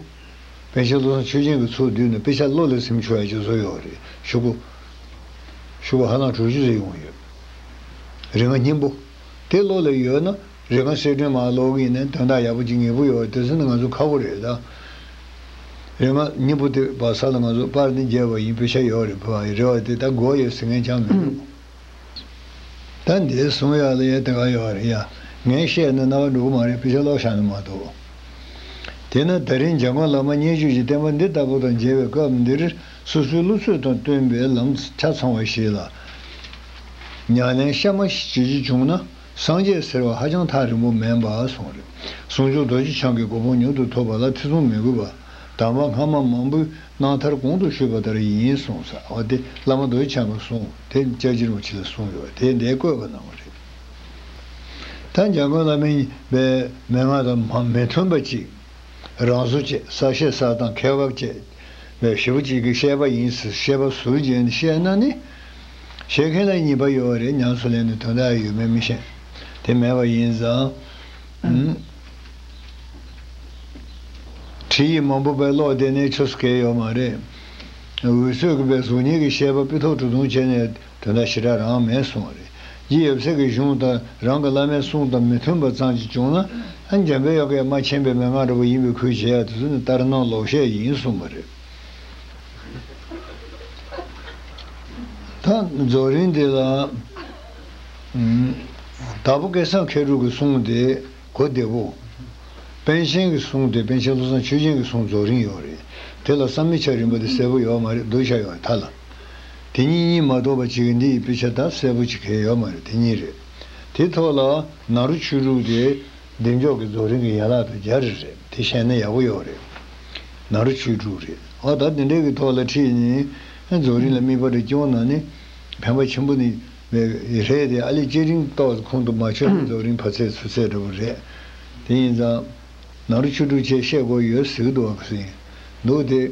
པན་ཆེན་བློ་བཟང་ཆོས་ཅན་གྱི་ཚོགས་བསྡུས་ནས་དཔེ་ཆ་བློ་ལ་སིམ་ཆོག་ཡ་ཅོ་བཟོ་ཡོད་རེད་ཞུ་གོ། ཞུ་བ་ཧ་ལམ་དྲུག་ཅུ་ཟིན་ཡོང་ཡོད། རེ་ང་སྙིང་པོ། དེ་བློ་ལ་ཡོད་ན། རེ་ཁཱ་སེ་ཏྲེ་མ་ལོག་གིས་ནི་དོན་དག་ཡག་པོ་གཅིག་ངེས་པོ་ཡོད་དེ་ཚོ་ནི་ང་ཚོ་ཁ་བོ་རེད་ད། རེ་ང་གཉིས་པོ་དེ་བ་ས་ལ་ང་ཚོ་པར་ནི་རྒྱལ་བ་ཡིན་ཕེ་ཤ་ཡོག་རེད་བུ་ཨ་ཡེ་རེད་བ་དེ་ད་གོ་ཡོད་ཟེར་མཁན་ཅང་མི་འདུག་ད་འདས་སོང་ཡག་ལ་ཡ་དེ་ག་ཡོག་རེད་ཡ་ངས་བཤད་ན་རྣ་བ་འགྲོ་གི་མ་རེད་ཕེ་ཤ་ལོག་ཤག་ནི་མ་གཏོགས། དེས་ན་ད་རིང་འཇང་དགོན་ལག་མ་བརྙས་བཅོས་ཀྱི་བསྟན་པ་འདི་ལྟ་བུ་དང་མཇལ་བའི་སྐབས་འདིར་སོ་སོའི་བློ་ཚོད་དང་བསྟུན་པའི་ལམ་ཆ་ཚང་བ་ཞིག་ལ། མྱ་ངན་གཤའ་མ་ཞིག་བྱེད་རྒྱུ་བྱུང་ན། སངས་རྒྱས་ཟེར་བ་ཧ་ཅང་ཐག་རིང་པོ་མེད་པ་སོང་རེད། ཟུང་འཇུག་རྡོ་རྗེ་འཆང་གི་གོ་འཕང་མྱུར་དུ་ཐོབ་པ་ལ་ཚེ་ཚོང་མི་དགོས་པ། དམ་པ་སྔ་མ་མང་པོས་གནང་མཐར་གོང་དུ་ཞུས་པ་ལྟར་ཡིན་གསུངས་ཟ་བ་དེ་བླ་མ་རྡོ་རྗེ་འཆང་གི་གསུང་དེ་ལྕགས་བྱི་རུ་བྱི་ལ་གསུངས་ཡོད་པ་དེ་འདའི་བཀོད་པ་གནང་བ་རེད། ད་འཇམ་མགོན་བླ་མའི་པའི་མན་ངག་དང་མི་མཐུན་པ་གཅིག། རང་བཟོ་བཅས་གསར་བཤད་གསར་དང་ཁེལ་བབ་བཅས་པའི་བཞི་པོ་གཅིག་གིས་བཤད་པ་ཡིན་ཟེར་བཤད་པ་ཟུར་བརྗེ་ནས་བཤད་ན་ནི། བཤད་མཁན་ལ་གཉིས་པ་ཡོད་རེད་ཉམས་སུ་ལེན་ནས་དོན་དག་ཡོད་མེད་མི་ཤེས། དེ་མེད་པ་ཡིན་ཙང། ཁྲིད་ཡིག་མང་པོ་དཔེ་ཀློག་བདེ་གནས་ཆོས་སུ་གལ་ཡོད་མ་རེད། འུད་ཚོད་ཀྱི་པའི་གཟུགས་བརྙན་གྱི་བཤད་པ་པི་ཐོག་གྲུ་དུང་བྱས་ནས། དེ་ལ་ཞི་དྲག་རང་མེད་གསུང་བ་རེད། རྗེ་ཡབ་སྲས་ཀྱི་གཞུང་དང་རང་གི་བླ་མའི་གསུང་དང་མི་མཐུན་པ་ཙམ་གྱིས་བྱུང་ན། འཇམ་དཔལ་ཡོ་གའི་རྨ་ཆེན་པའི་མན་ངག་འདྲ་པོ་ཡིན་པས་ཁུལ་བྱེད་ཡག་དེ་ཚོ་ནི་ལྟར་སྣང་ལོག་བཤད་ཡིན་གསུང་བ་རེད། ད་རྫོགས་རིང་འདི་ལ། དྭགས་པོ་སྐལ་བཟང་མཁས་གྲུབ་ཀྱི་གསུང་དེ་གོ་བདེ་བོ། པཎ་ཆེན་གྱི་གསུང་དེ་པཎ་ཆེན་བློ་བཟང་ཆོས་སྦྱིན་གྱི་གསུང་རྫོགས་རིང་ཡོད་རེད་དེ་ལ་བསམ་མི་ཆགས་རིམ་པ་དེ་གསལ་པོ་ཡོད་མ་རེད་གདུལ་བྱ་ཡོངས་ཀྱི་མཐའ་ལ། དེ་གཉིས་གཉིས་མ་གཏོགས་པ་གཅིག་གི་འདི་ཡི་དཔེ་ཆ་དག་གསལ་པོ་གཅིག་གས་ཡོད་མ་རེད་དེ་གཉིས་རེད། དེ་ཐོག་ལ་ནག་རུ་ཆུ་དྲུག་དེ་གདེང་འཇོག་གི་རྫོགས་རིང་གི་ཡན་ལག་དང་རྒྱ་རི་རེད་དེ་བཤད་ན་ཡག་པོ་ཡོག་རེད། ནག་རུ་ཆུ་དྲུག་རེད་ཨ་ད་དེ་འདྲའི་གི་ཐོག་ལ་ཁྲིད་ནས་རྫོགས་རིང་ལ་དམིགས་པ་རེ་སྐྱོང་ན་ནི་ཕན་པ་ཆེན་པོ་ནི་མེད་རེད་དེ་ཨ་ལས་སྐྱེ་རིང་ཏོག་ཁོང་དུ་མ་ཆུད་པའི་རྫོགས་རིང་ཕ་ཚད་ཚུ་ཚད་འདྲ་བོ་རེད། དེ་ཡིན་ཙང། ནག་རུ་ཆུ་དྲུག་ཆེད་བཤད་སྒོ་ཡོད་ཟིག་འདུག་ཨ་ཁ་སིན་འདུག་དེ།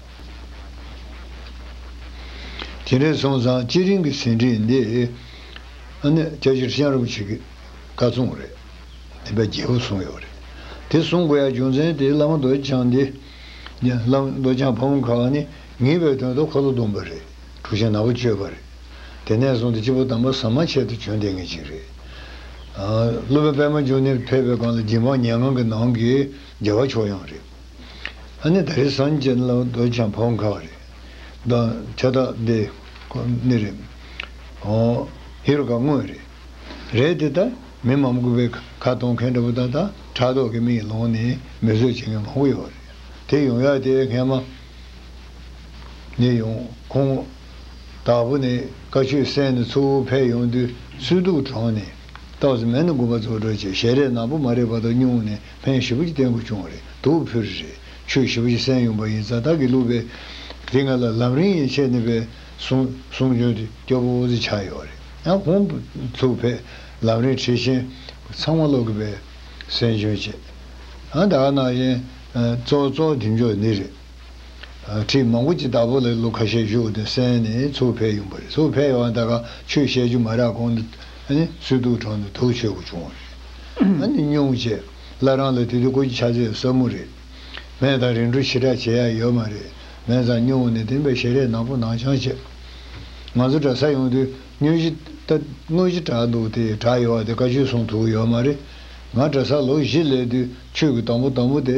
དེ་འདྲའི་སོང་ཙང་སྤྱི་རིང་གི་ཟིན་བྲིས་འདི་ཨ་ནི་རྒྱ་ཆེར་བཤམས་རོགས་བྱེད་ཀི་བཀའ་བཙུངས་རེད་དེ་པའི་རྒྱལ་པོ་གསུངས་ཡོད་རེད་དེ་གསུངས་དགོས་ཡ་རྒྱུ་མཚན་དེ་བླ་མ་རྡོ་རྗེ་འཆང་འདི་ནི་བླ་མ་རྡོ་རྗེ་འཆང་ཕ་བོང་ཁ་བ་ནི་ངེས་པའི་དོན་དུ་ཁོ་ལོ་བརྡུངས་པ་རེད་དྲུག་ཆེན་ནག་པོ་བཅོས་པ་རེད་དེ་ནས་བཟུང་སྟེ་སྤྱི་བོ་དང་པོ་ཟ་མ་ཆད་དུ་བྱོན་བསྡད་ངེས་ཅིག་རེད་ཀླུ་པའི་པདྨ་འབྱུང་གནས་ཕེབས་པའི་སྒང་ལ་སྦྱིན་འབངས་ཉལ་ངང་གི་ནང་གི་རྒྱལ་བ་མཆོག་ཡང་རེད། ཨ་ནི་ད་རེས་སངས་རྒྱས་ལ་འདོད་ཆགས་འཕོ་མཁའ་བ་རེད། ད་ཁྱད་རྟགས་འདི་ཁོ་ནི་རེད། ཧོ། ཧེ་རུ་ཀ་དངོས་རེད། རེད་དེ་ལྟར་མི་མང་པོ་པའི་ཁ་གཏོང་མཁན་འདྲ་པོ་དང་ད་ཕྲག་དོག་གི་མིག་ལོང་ནས་མི་བཟོད་བྱེད་མཁན་མང་པོ་ཡོད་རེད། དེ་ཡོང་ཡག་དེ་སྔས་མ་ཉེས་ཡོང་ཁོང་དྭགས་པོ་ནས་བཀའ་ཆོས་གསན་ནས་ཚུར་བོད་ཕེབས་ཡོང་དུས་སུས་དུག་དྲངས་ནས་རྟགས་སུ་མེད་ན་དགོན་པ་བཙོག་འགྲོ་བྱས་ཞེས་རས་ནག་པོ་མ་རེད་པ་དག་བསྙུང་ནས་ཕན་བཞི་པོ་ཅི་བསྟན་དགོས་བྱུང་བ་རེད་འདུག་བོད་རིགས་རེད་ཆོད་བཞི་པོ་ཅི་གསན་ཡོང་པ་ཡིན་ཙང་བདག་གིས་བླུགས་པའི། དེ་ང་ལ་ལམ་རིང་ཡན་ཆད་ནས་པའི་གསུང་གསུང་འབྱོན་དུ་སྐྱོ་པོ་བོ་ཟི་ཆགས་ཡོད་རེད་ཡང་གོང་དུ་ཚུགས་བས་ལམ་རིང་ཁྲིད་ཆེན་ཚང་མ་ཀློག་གི་པའི་གསན་འབྱོན་བྱེད་ཨ་ད་ནང་བཞིན་ཙོག་ཙོག་འདེམས་འཇོག་ནི་རེད། ཁྲིད་མང་པོ་ཅི་ལྟ་བུ་ལས་ལོ་ཁ་ཤས་བཞུགས་ཏེ་གསན་ནས་ཚུར་ཕེབས་ཡོང་པ་རེད་ཚུར་ཕེབས་ཡོང་བ་ད་ག་ཆོས་བཤད་རྒྱུ་མ་རག་གོང་དུ་སུད་དུག་གྲོང་དུ་དུག་ཆོས་སྒོ་བྱུང་བ་རེད་ཨ་ནི་སྙུང་བྱས་སླ་རང་ལ་དེ་དུས་ཀོ་ཅི་ཆ་ཚད་ཟབ་མོ་རེད་སྨན་དང་རིན་གྲོ་ཕྱི་དྲག་བྱེད་ཡ་ཡོད་མ་རེད་སྨན་ཚང་སྙུང་ནས་དེང་པའི་ཞལ་རས་ནག་པོ་ནང་བྱང་བྱས་ང་ཚོ་གྲྭ་ས་ཡོང་དུས་སྙུན་གཞི་ལྟ་དངོས་གཞི་དྲག་འདུག་དེ་དྲག་ཡོད་བ་དེ་ཀ་ཆོས་གསུང་ཐུག་ཡོད་མ་རེད་ང་གྲྭ་ས་ལོ་བཞི་སླེབས་དུས་ཆོས་ཀྱི་དང་པོ་དང་པོ་དེ།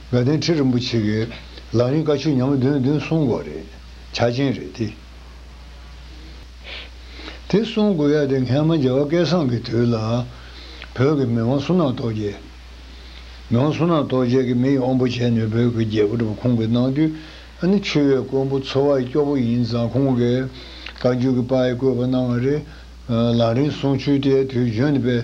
དགའ་ལྡན་ཁྲི་རིན་པོ་ཆེ་གིས་ལག་ལེན་བཀའ་ཆོས་ཉམས་བདུན་བདུན་གསུང་དགོས་རེད། བྱ་ཆེན་རེད་དེ། དེ་གསུང་དགོས་ཡ་དེ་མཁན་མ་རྒྱལ་བ་སྐལ་བཟང་གི་དུས་ལ། བོད་ཀྱི་མི་དབང་སུ་ནང་རྟོགས་རྒྱལ། མི་དབང་སུ་ནང་རྟོགས་རྒྱལ་གྱི་མི་ཡི་དབང་པོ་བྱས་ནས་བོད་ཀྱི་རྒྱལ་པོ་ཁོང་གི་གནང་དུས་ནི་ཆོས་བའི་མགོན་པོ་འཚོ་བ་ཡི་སྐྱོ་པོ་ཡིན་ཙང་ཁོང་གིས་བཀའ་བརྒྱུད་ཀྱི་པ་ཡི་བཀོད་པ་གནང་བ་རེད། ལག་ལེན་གསུང་ཆོས་དེ་དུས་བཞོན་པའི།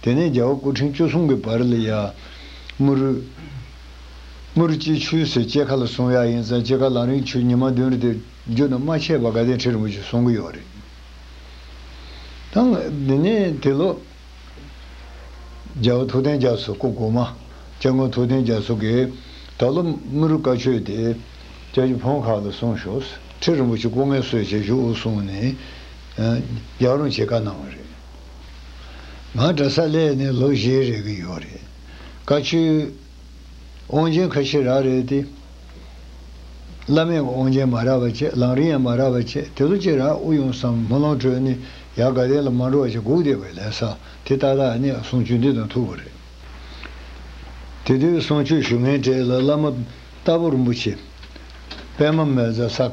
དེ་ནས་རྒྱལ་བ་སྐུ་ཕྲེང་བཅུ་གསུམ་གྱི་བར་ལ་ཡར། དམུ་རུ། དམུ་རུ་སྐྱིད་ཆུའི་ཟེར་སྐྱེས་ཁ་ལ་སོང་ཡག་ཡིན་ཙང་སྐྱེས་ཁ་ལང་རིང་ཆུ་ཉི་མ་བདུན་རེ་དེ་རྒྱུད་ན་རྨ་ཆས་པ་དགའ་ལྡན་ཁྲི་རིན་པོ་ཆེ་གསུང་གི་ཡོག་རེད་དང། དེ་ནས་དེ་ལོ། རྒྱལ་བ་ཐུབ་བསྟན་རྒྱ་མཚོ་སྐུ་གོང་མ། སྐྱབས་མགོན་ཐུབ་བསྟན་རྒྱ་མཚོ་གིས། ད་ལོ་དམུ་རུ་བཀའ་ཆོས་དེ། སྐྱབས་ཀྱི་བོན་ཁག་ལ་སོང་ཞོགས་ཁྲི་རིན་པོ་ཆེ་སྐུ་ངལ་གསོས་བྱེད་ཞུ་གསུང་ནས། རྒྱག་རུང་བྱེད་བཀའ་གནང་བ་རེད། ང་གྲྭ་ས་ལས་ནས་ལོ་བཞི་རེ་གི་ཡོད་རེད། བཀའ་ཆོས། དབང་ཆེན་ཁ་ཤི་རག་རེད་དེ། བླ་མས་དབང་ཆེན་མ་རག་པ་བྱེད་ལང་རིང་ཡང་མ་རག་པ་བྱེད་དེ་ལོ་གཅིག་རག་དབུ་ཡོང་བསམ་སྨོན་ལམ་གྲོལ་ནི་ཡག་དགའ་ལྡན་ལ་མ་འགྲོ་བ་ཅིག་སྒུག་བསྡད་པའི་ལས་ས་དེ་ཏག་ཏག་གནས་གསུང་ཆོས་འདི་དང་ཐུག་པ་རེད། དེ་དུས་གསུང་ཆོས་ཞུ་མཁན་གྲས་ལ་བླ་མ་རྟ་ཕོ་རིན་པོ་ཆེ། པད་མ་མལ་བཟའ་ས།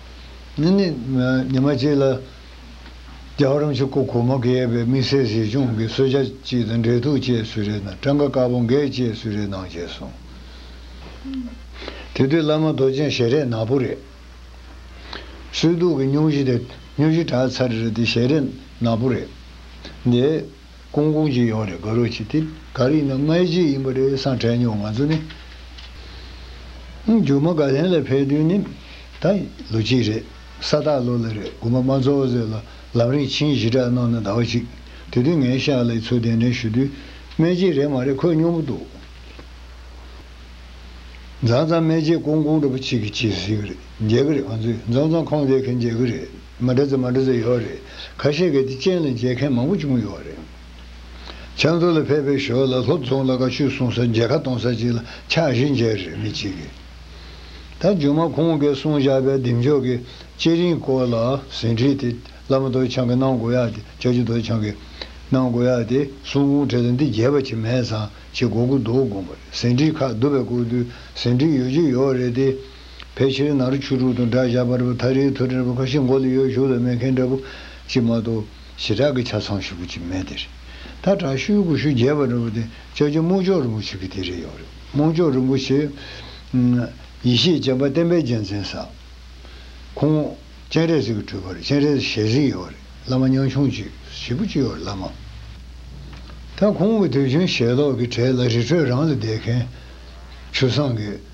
ནི་ནི། ཉི་མ་གཅིག་ལ་རྒྱ་གར་རམ་ཆུ་ཁོ་གོ་མ་གེ་པའི་དམིགས་བསལ་གཟིགས་སྐྱོང་གི་གསོལ་ཇ་ཅིག་དང་འབྲེལ་ཐུགས་བཅས་གསུལ་རས་དང་སྤྲང་ཁ་དཀར་པོ་འགས་བཅས་གསུལ་རས་གནང་བྱས་སོང། དེ་དུས་བླ་མ་རྡོ་རྗེ་ཞལ་རས་ནག་པོ་རེད། གསོལ་གདུགས་ཀྱི་སྙུང་གཞི་དེ་སྙུ་གཞི་བྲག་ཚར་རེད་དེ་ཞལ་རས་ནག་པོ་རེད་དེ། ཀོང་ཀོང་གཅིག་ཡོང་རེད་དགའ་རོགས་གྱིས་ཏེ། ག་རེ་ཡིན་ན་སྔའི་རྗེས་ཡིན་པ་རེད་སང་དྲན་མྱོང་ང་ཚོ་ནི། རྒྱུ་མ་ག་ལན་ལ་ཕེབས་དུས་ནི་ད་ལོ་གཅིག་རེད་ས་སྟག་ལོ་ལ་རེད་དགུ་མ་མ་ཚོགས་ཟེར་ལ་ལམ་རིང་ཕྱིན་ཞི་དྲག་གནང་ན་ཟླ་བ་གཅིག་དེ་དུས་ངའི་ཤག་ལས་ཚུར་གདན་འདྲེན་ཞུ་དུས་སྨད་རྗེས་རེད་མ་རེད་ཁོས་སྨྱོ་མོ་འདུག་མཛང་མཛང་སྨད་རྗེས་ཀོང་ཀོང་འདྲ་པོ་གཅིག་གིས་བྱེད་ཟིག་རེད་མཇལ་གི་རེད་ང་ཚོས་མཛང་མཛང་ཁོང་དེ་གིས་མཇལ་གི་རེད། མ་འདྲ་ཚོ་མ་འདྲ་ཚོ་ཡོད་རེད། ཁ་ཤས་ཀྱིས་དེ་ཅན་ལ་མཇལ་མཁན་མང་པོ་བྱུང་ཡོད་རེད། ཕྱག་མཛོད་ལ་ཕེབས་པའི་ཞོར་ལ་ལྷོ་རྫོང་ལ་ཀ་ཆུས་སྲུང་ས་མཇལ་ཁ་གཏོང་ས་ཅིག་ལ་ཕྱག་བཞི་མཇལ་རེད་མི་གཅིག་གིས། ད་རྒྱུན་མ་ཁོང་གིས་གསུང་བཞག་པའི་གདེང་འཇོག་གི་བཅས་རིན་སྐོར་ལ་ཟིན་བྲིས་དེ་བླ་མ་རྡོ་ཆང་གིས་གནང་དགོས་ཡ་དེ་ལྕགས་ཀྱུ་རྡོ་ཆང་གིས་གནང་དགོས་ཡ་དེ་གསུང་གུང་བྲེལ་ལ་འདི་རྒྱས་པ་ཆེ་མེད་ཙང་ཆེ་གོ་གུ་འདུག་དགོངས་པ་རེད་ཟིན་བྲིས་ཁག་བསྡུ་བའི་སྐོར་དུས་ཟིན་བྲིས་ཡོད་རྒྱུ་ཡོད་རེད་དེ། ཕལ་ཆེར་ནག་རི་ཆུ་དྲུག་དང་སྦྲགས་བཞག་པར་བུ་ཐ་རིའི་ཐུ་དྲན་པ་ཁ་ཤས་མགོ་ལ་ཡོད་ཞུགས་ལ་མེད་མཁན་འདྲ་བོ་ཅིག་མ་གཏོགས་ཞེ་དྲག་གི་ཆ་ཚང་ཞིག་པོ་ཅིག་མེད་དེ་རེད། ད་དྲག་ཤུལ་དགུ་ཤུལ་བརྒྱད་པ་འདྲ་བོ་དེ་ལྕགས་ཀྱུ་སྨུག་ལྕོག་རིན་པོ་ཆེ་གི་དེ་རེད་ཡོང་རེད་སྨུག་ལྕོག་རིན་པོ་ཆེ། ཡེ་ཤེས་སྤྱན་པ་བསྟན་པའི་རྒྱལ་མཚན་ས། ཁོང། སྤྱན་རས་གཟིགས་ཀྱི་སྤྲུལ་པར་སྤྱན་རས་ཞལ་གཟིགས་ཡོང་རེད་བླ་མ་ཉང་ཆུང་ཅིག་ཞིག་པོ་ཅིག་ཡོང་རེད་བླ་མ། ད་ཁོང་གི་དུས་རྒྱུན་ཞལ་ལོག་གི་གྲས་ལ་རི་ཁྲོད་རང་ལ་བསྡད་མཁན། ཆུ་བཟང་གི།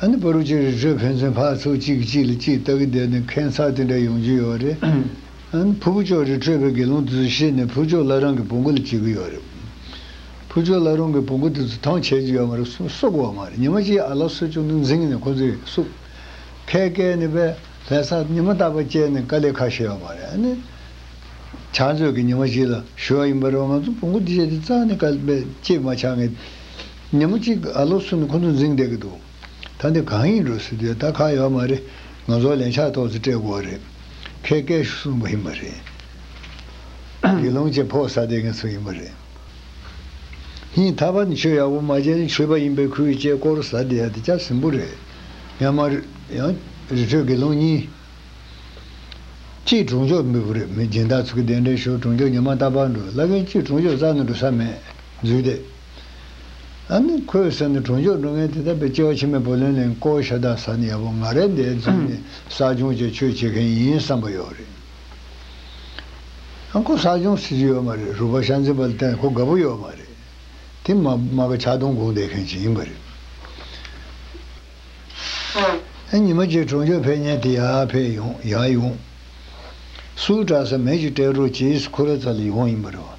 ཨ་ནི་པཱ་རུ་ཅི་རི་ཀྲས་ཕན་ཚུན་ཕར་ཚུར་གཅིག་གིས་གཅིག་ལ་གཅིག་ལྟ་གི་བསྡད་ནས་ཁེངས་ཚགས་དེ་འདྲ་ཡོང་རྒྱུ་ཡོད་རེད། ཨ་ནི་ཕུ་བོ་ཅོ་རི་ཀྲས་ཕའི་དགེ་སློང་དེ་ཚོ་ཤེས་ནས་ཕུ་ཅོ་ལ་རང་གི་བུ་འགོ་ལ་བྱེད་གི་ཡོད་རེད། ཕུ་ཅོ་ལ་རང་གི་བུ་འགོ་དེ་ཚོ་ཐང་ཆད་ཀྱི་ཡོད་མ་རེད་གསུངས་བསོག་གི་ཡོད་མ་རེད་ཉི་མ་གཅིག་ཨ་ལགས་སྲོལ་ཆུང་དུ་འཛིངས་ནས་ཁོ་ཚོས་བསུབས། ཁའི་སྐལ་ནི་པའི་ལྷས་ས་ཉི་མ་རྟག་པར་བཅད་ནས་དཀའ་ལས་ཁག་བྱས་ཡོད་མ་རེད་ཨ་ནི། ཆ་མཛོད་ཀྱི་ཉི་མ་གཅིག་ལ་ཞུ་བ་ཡིན་པ་རེད་བ་ང་ཚོ་བུ་འགོ་དེ་བྱས་དེ་རྩ་ནས་དཀའ་ལས་བཅད་མ་ཆགས་ངེས། ཉིན་མོ་གཅིག་ཨ་ལོ་སུ་ནི་ཁོ་ཚོ་འཛིང་བསྡད་ཀྱི་འདུག་ད་འདི་གང་ཡིན་འགྲོ་སྲིད་དུས་ད་ཁག་ཡོད་མ་རེད་ང་ཚོ་ལན་ཆགས་ཐོག་ཚེ་སྤྲད་དགོས་བ་རེད་ཁས་སྐད་ཤུགས་གསུམ་པོ་ཡིན་པ་རེད་དགེ་སློང་ཆེ་ཕོག་ས་དེ་ངེད་ཚོ་ཡིན་པ་རེད་ཧིན་ད་བ་ནི་ཆོས་ཡག་པོ་མ་བྱས་ན་ཆོས་པ་ཡིན་པའི་ཁུལ་བྱས་སྐོར་ས་དེ་ཡ་དེ་སྐྱ་ཟིན་པོ་རེད་ཡང་མ་ཡང་རི་ཁྲོད་དགེ་སློང་གཉིས་སྐྱིད་གྲོང་ཆོག་མི་བུ་རེད་མི་སྦྱིན་བདག་ཚོ་གི་དེ་འདྲའི་ཤོར་གྲོང་ཆོག་ཉི་མ་རྟ་ཕག་འགྲོ་བླ་རྒན་སྐྱིད་གྲོང་ཆོག་རྩ་ནས་འགྲོ་ས་མེད་རྫུས་ཏེ། ཨ་ནི་ཁོའི་སེམས་ནི་གྲོང་ཆོག་འགྲོ་མཁན་དེ་དག་པའི་སྐྱེ་བ་ཕྱི་མའི་བུ་ལོན་ལེན་སྐོར་ཤ་དག་ཟ་ནས་ཡག་པོ་ང་རེད་འདས་རྫུན་ནི་བསགས་སྦྱོང་བཅས་ཁྱོད་བྱེད་མཁན་ཡིན་བསམ་པ་ཡོད་རེད། ཨ་ཁོ་བསགས་སྦྱོང་བྱེད་ཀྱི་ཡོད་མ་རེད་རུ་བ་ཤ་འཛིན་པ་ལ་བརྟེན་ཁོ་དགའ་པོ་ཡོད་མ་རེད། དེ་མ་མ་ག་ཆག་སྡོང་སྒུག་འདས་མཁན་ཞིག་ཡིན་པ་རེད། ཨ་ཉི་མ་ཁྱེད་གྲོང་ཆོག་ཕེབས་ཉེན་དེ་ཡག་ཕེབས་ཡོང་ཡག་ཡོང། སུའུ་བཀྲ་ས་མེད་ཅིག་སྤྲད་རོགས་བྱས་ཨིས་ཁོ་ར་ཚ་ལ་ཡོང་ཡིན་པ་རེད་བ།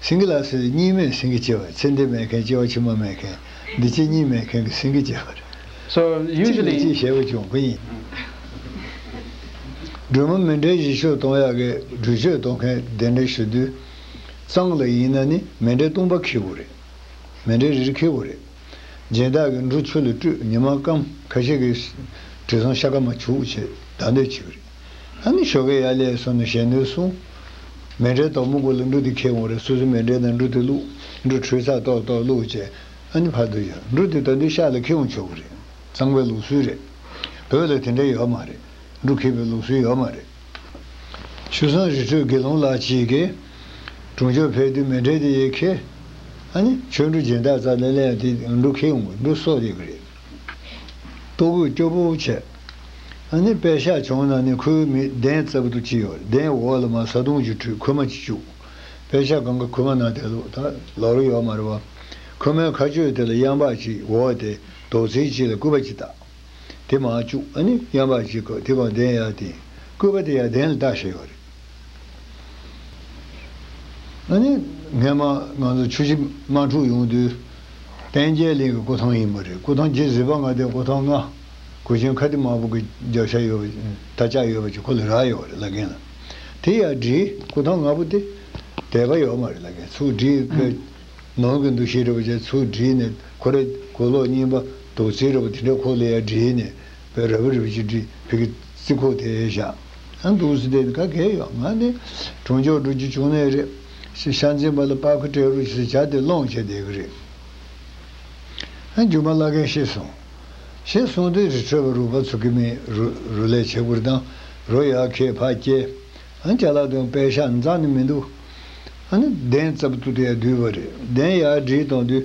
སེང་གེ་ལ་སོས་ཏེ་གཉིས་མེད་སེང་གེ་སྐྱེ་བར་ཚེ་འདི་མེད་མཁན་སྐྱེ་བ་ཕྱི་མ་མེད་མཁན་འདི་སྐྱེ་གཉིས་མེད་མཁན་གྱི་སེང་གེ་སྐྱེ་བར། གཅིག་ལས་གཅིག་གཞལ་བ་ཅུང་དཀོན་ཡིན། སྒྲོལ་མ་མི་འདྲའི་གཞི་ཆོས་སྟོང་ཡག་གི་སྒྲོལ་ཆོས་སྟོང་མཁན་གདན་འདྲེན་ཞུ་དུས། གཙང་ལ་ཡིན་ན་ནི་མེ་འདྲའི་བཏུང་པ་འཁེལ་བོ་རེད། མེ་འདྲའི་རིར་འཁེལ་བོ་རེད། སྦྱིན་བདག་གིས་འབྲུ་ཆུ་ལ་བཀྲུས་ཉི་མ་སྐམས་ཁ་ཤས་ཀྱིས་དྲི་བཟང་ཤ་ཁ་མ་བྱུགས་བྱས་བདག་འདོད་བྱེད་ཀྱི་རེད། ཨ་ནི་ཤོ་ཀེ་ཡ་ལེ་ཡ་སོ་ནོ་ཞེས་ནོས་སོ། མེ་འབྲས་དོག་མོ་གོ་ལོ་འབྲུ་དེ་ཁྱེར་འོང་རེ་སོ་སོའི་མེ་འབྲས་དང་འབྲུ་དེ་བླུག། འབྲུ་ཁྲོས་ཚག་ཏོག་ཏོག་བླུག་ཅེས་ཨ་ནི་ཕར་དུ་གཞག་འབྲུ་དེ་ད་འདི་ཤག་ལ་ཁྱེར་འོང་ཆོག་གི་རེད། གཙང་པའི་ལུགས་སྲོལ་རེད། བོད་ལ་དེ་འདྲ་ཡོད་མ་རེད། འབྲུ་ཁྱེར་བའི་ལུགས་སྲོལ་ཡོད་མ་རེད། ཆུ་བཟང་རི་ཁྲོད་དགེ་སློང་ལགས་ཅིག་གིས། གྲོང་ཆོག་ཕེབས་དུས་མེ་འབྲས་དེ་ཡིས་ཁྱེར། ཨ་ནི་ཆོས་འབྲུ་སྦྱིན་བདག་རྩ་ལེ་ལེ་ཡ་དེས་འབྲུ་ཁྱེར་འོང་གི་འབྲུ་གསོག་ཡོད་གི་རེད། ལྟོ་གོས་སྐྱོ་པོ་བྱས། ཨ་ནི་པད་ཤག་བྱུང་ན་ནི་ཁོའི་མིག་གདན་རྩབ་ཏུ་ཅི་ཡོད་གདན་འོག་ལ་མ་བཟའ་བཏུང་གཅིག་ཁྲུས་ཁོལ་མ་གཅིག་བཅུག། པད་ཤག་གང་གི་ཁོལ་མ་ནང་དེ་ལོག་ད་ལོག་རོ་ཡོག་མ་རེད་བ། ཁོལ་མའི་ཁ་ཆོས་དེ་ལ་གཡང་འབག་གཅིག་འོག་དེ་དོག་ཚིལ་གཅིག་ལ་སྐུད་པ་གཅིག་བཏགས། དེ་མ་བཅུག་ཨ་ནི་གཡང་འབག་གཅིག་གོ་དེ་གང་གདན་ཡག་དེ། སྐུད་པ་དེ་ཡག་གདན་ལ་བཏགས་ཤེས་ཡོག་རེད། ཨ་ནི། སྔན་མ་ང་ཚོ་ཆུ་བཞི་དམག་འཁྲུག་ཡོང་དུས། བསྟན་རྒྱལ་གླིང་གི་སྐུ་ཐང་ཡིན་པ་རེད་སྐུ་ཐང་བརྒྱད་གཟིགས་པ་ང་དེ་སྐུ་ཐང་ལྔ། གོས་ཆེན་ཁ་ཏི་དམར་པོ་གི་རྒྱབ་ཤ་ཡོད་པ་ད་ཅག་ཡོད་པ་ཅིག་ཁོ་ལ་རག་ཡོད་པ་རེད་ལ་རྒན་ལ་དེ་ཡར་བྲིས་སྐུ་ཐང་ལྔ་པོ་དེ་དད་པ་ཡོད་མ་རེད་ལ་རྒན་ཚུར་བྲིས་ཁའི་ནང་གི་འདུ་ཤེས་རེད་པ་ཅིག་ཚུར་བྲིས་ནས་ཁོ་རེ་གོས་ལོག་རྙིང་པ་དོག་རྩིས་རེད་པ་དེ་འདྲ་ཁོ་ལ་ཡར་བྲིས་ནས་བེ་ར་བེ་རི་བེ་ཅིག་བྲིས་བེ་གི་རྩིས་ཁོག་དེ་ཡར་བཞག། ཨ་འདུག་ཟེར་དེ་ནི་ག་གེ་ཡོད་ང་ནི་གྲོང་ཆོག་འགྲོ་རྒྱུ་བྱུང་ནས་རེད། ཞེས་ཤ་འཛིན་པ་ལ་པགས་ཁུ་སྤྲད་རོགས་ཞེས་བྱ་སྟེ་སློང་བྱས་བསྡད་ཀྱི་རེད། རྒྱུ་མ་བླ་རྒན་ཤེས་སོང། ཞེས་གསུངས་དུས་རི་ཁྲོད་པ་རུ་བ་ཚུགས་ཀྱི་མི་རུ་ལས་བྱེད་ཀུར་དང་རོ་ཡག་ཁྱད་འཕགས་སྐྱེས། རྒྱ་ལག་དང་པད་ཤག་འཛག་ནི་མི་འདུག། གདན་རྩ་བར་དུ་དེ་ཡང་བསྡུས་པ་རེད་གདན་ཡག་བསྒྲིལ་བཏང་དུས།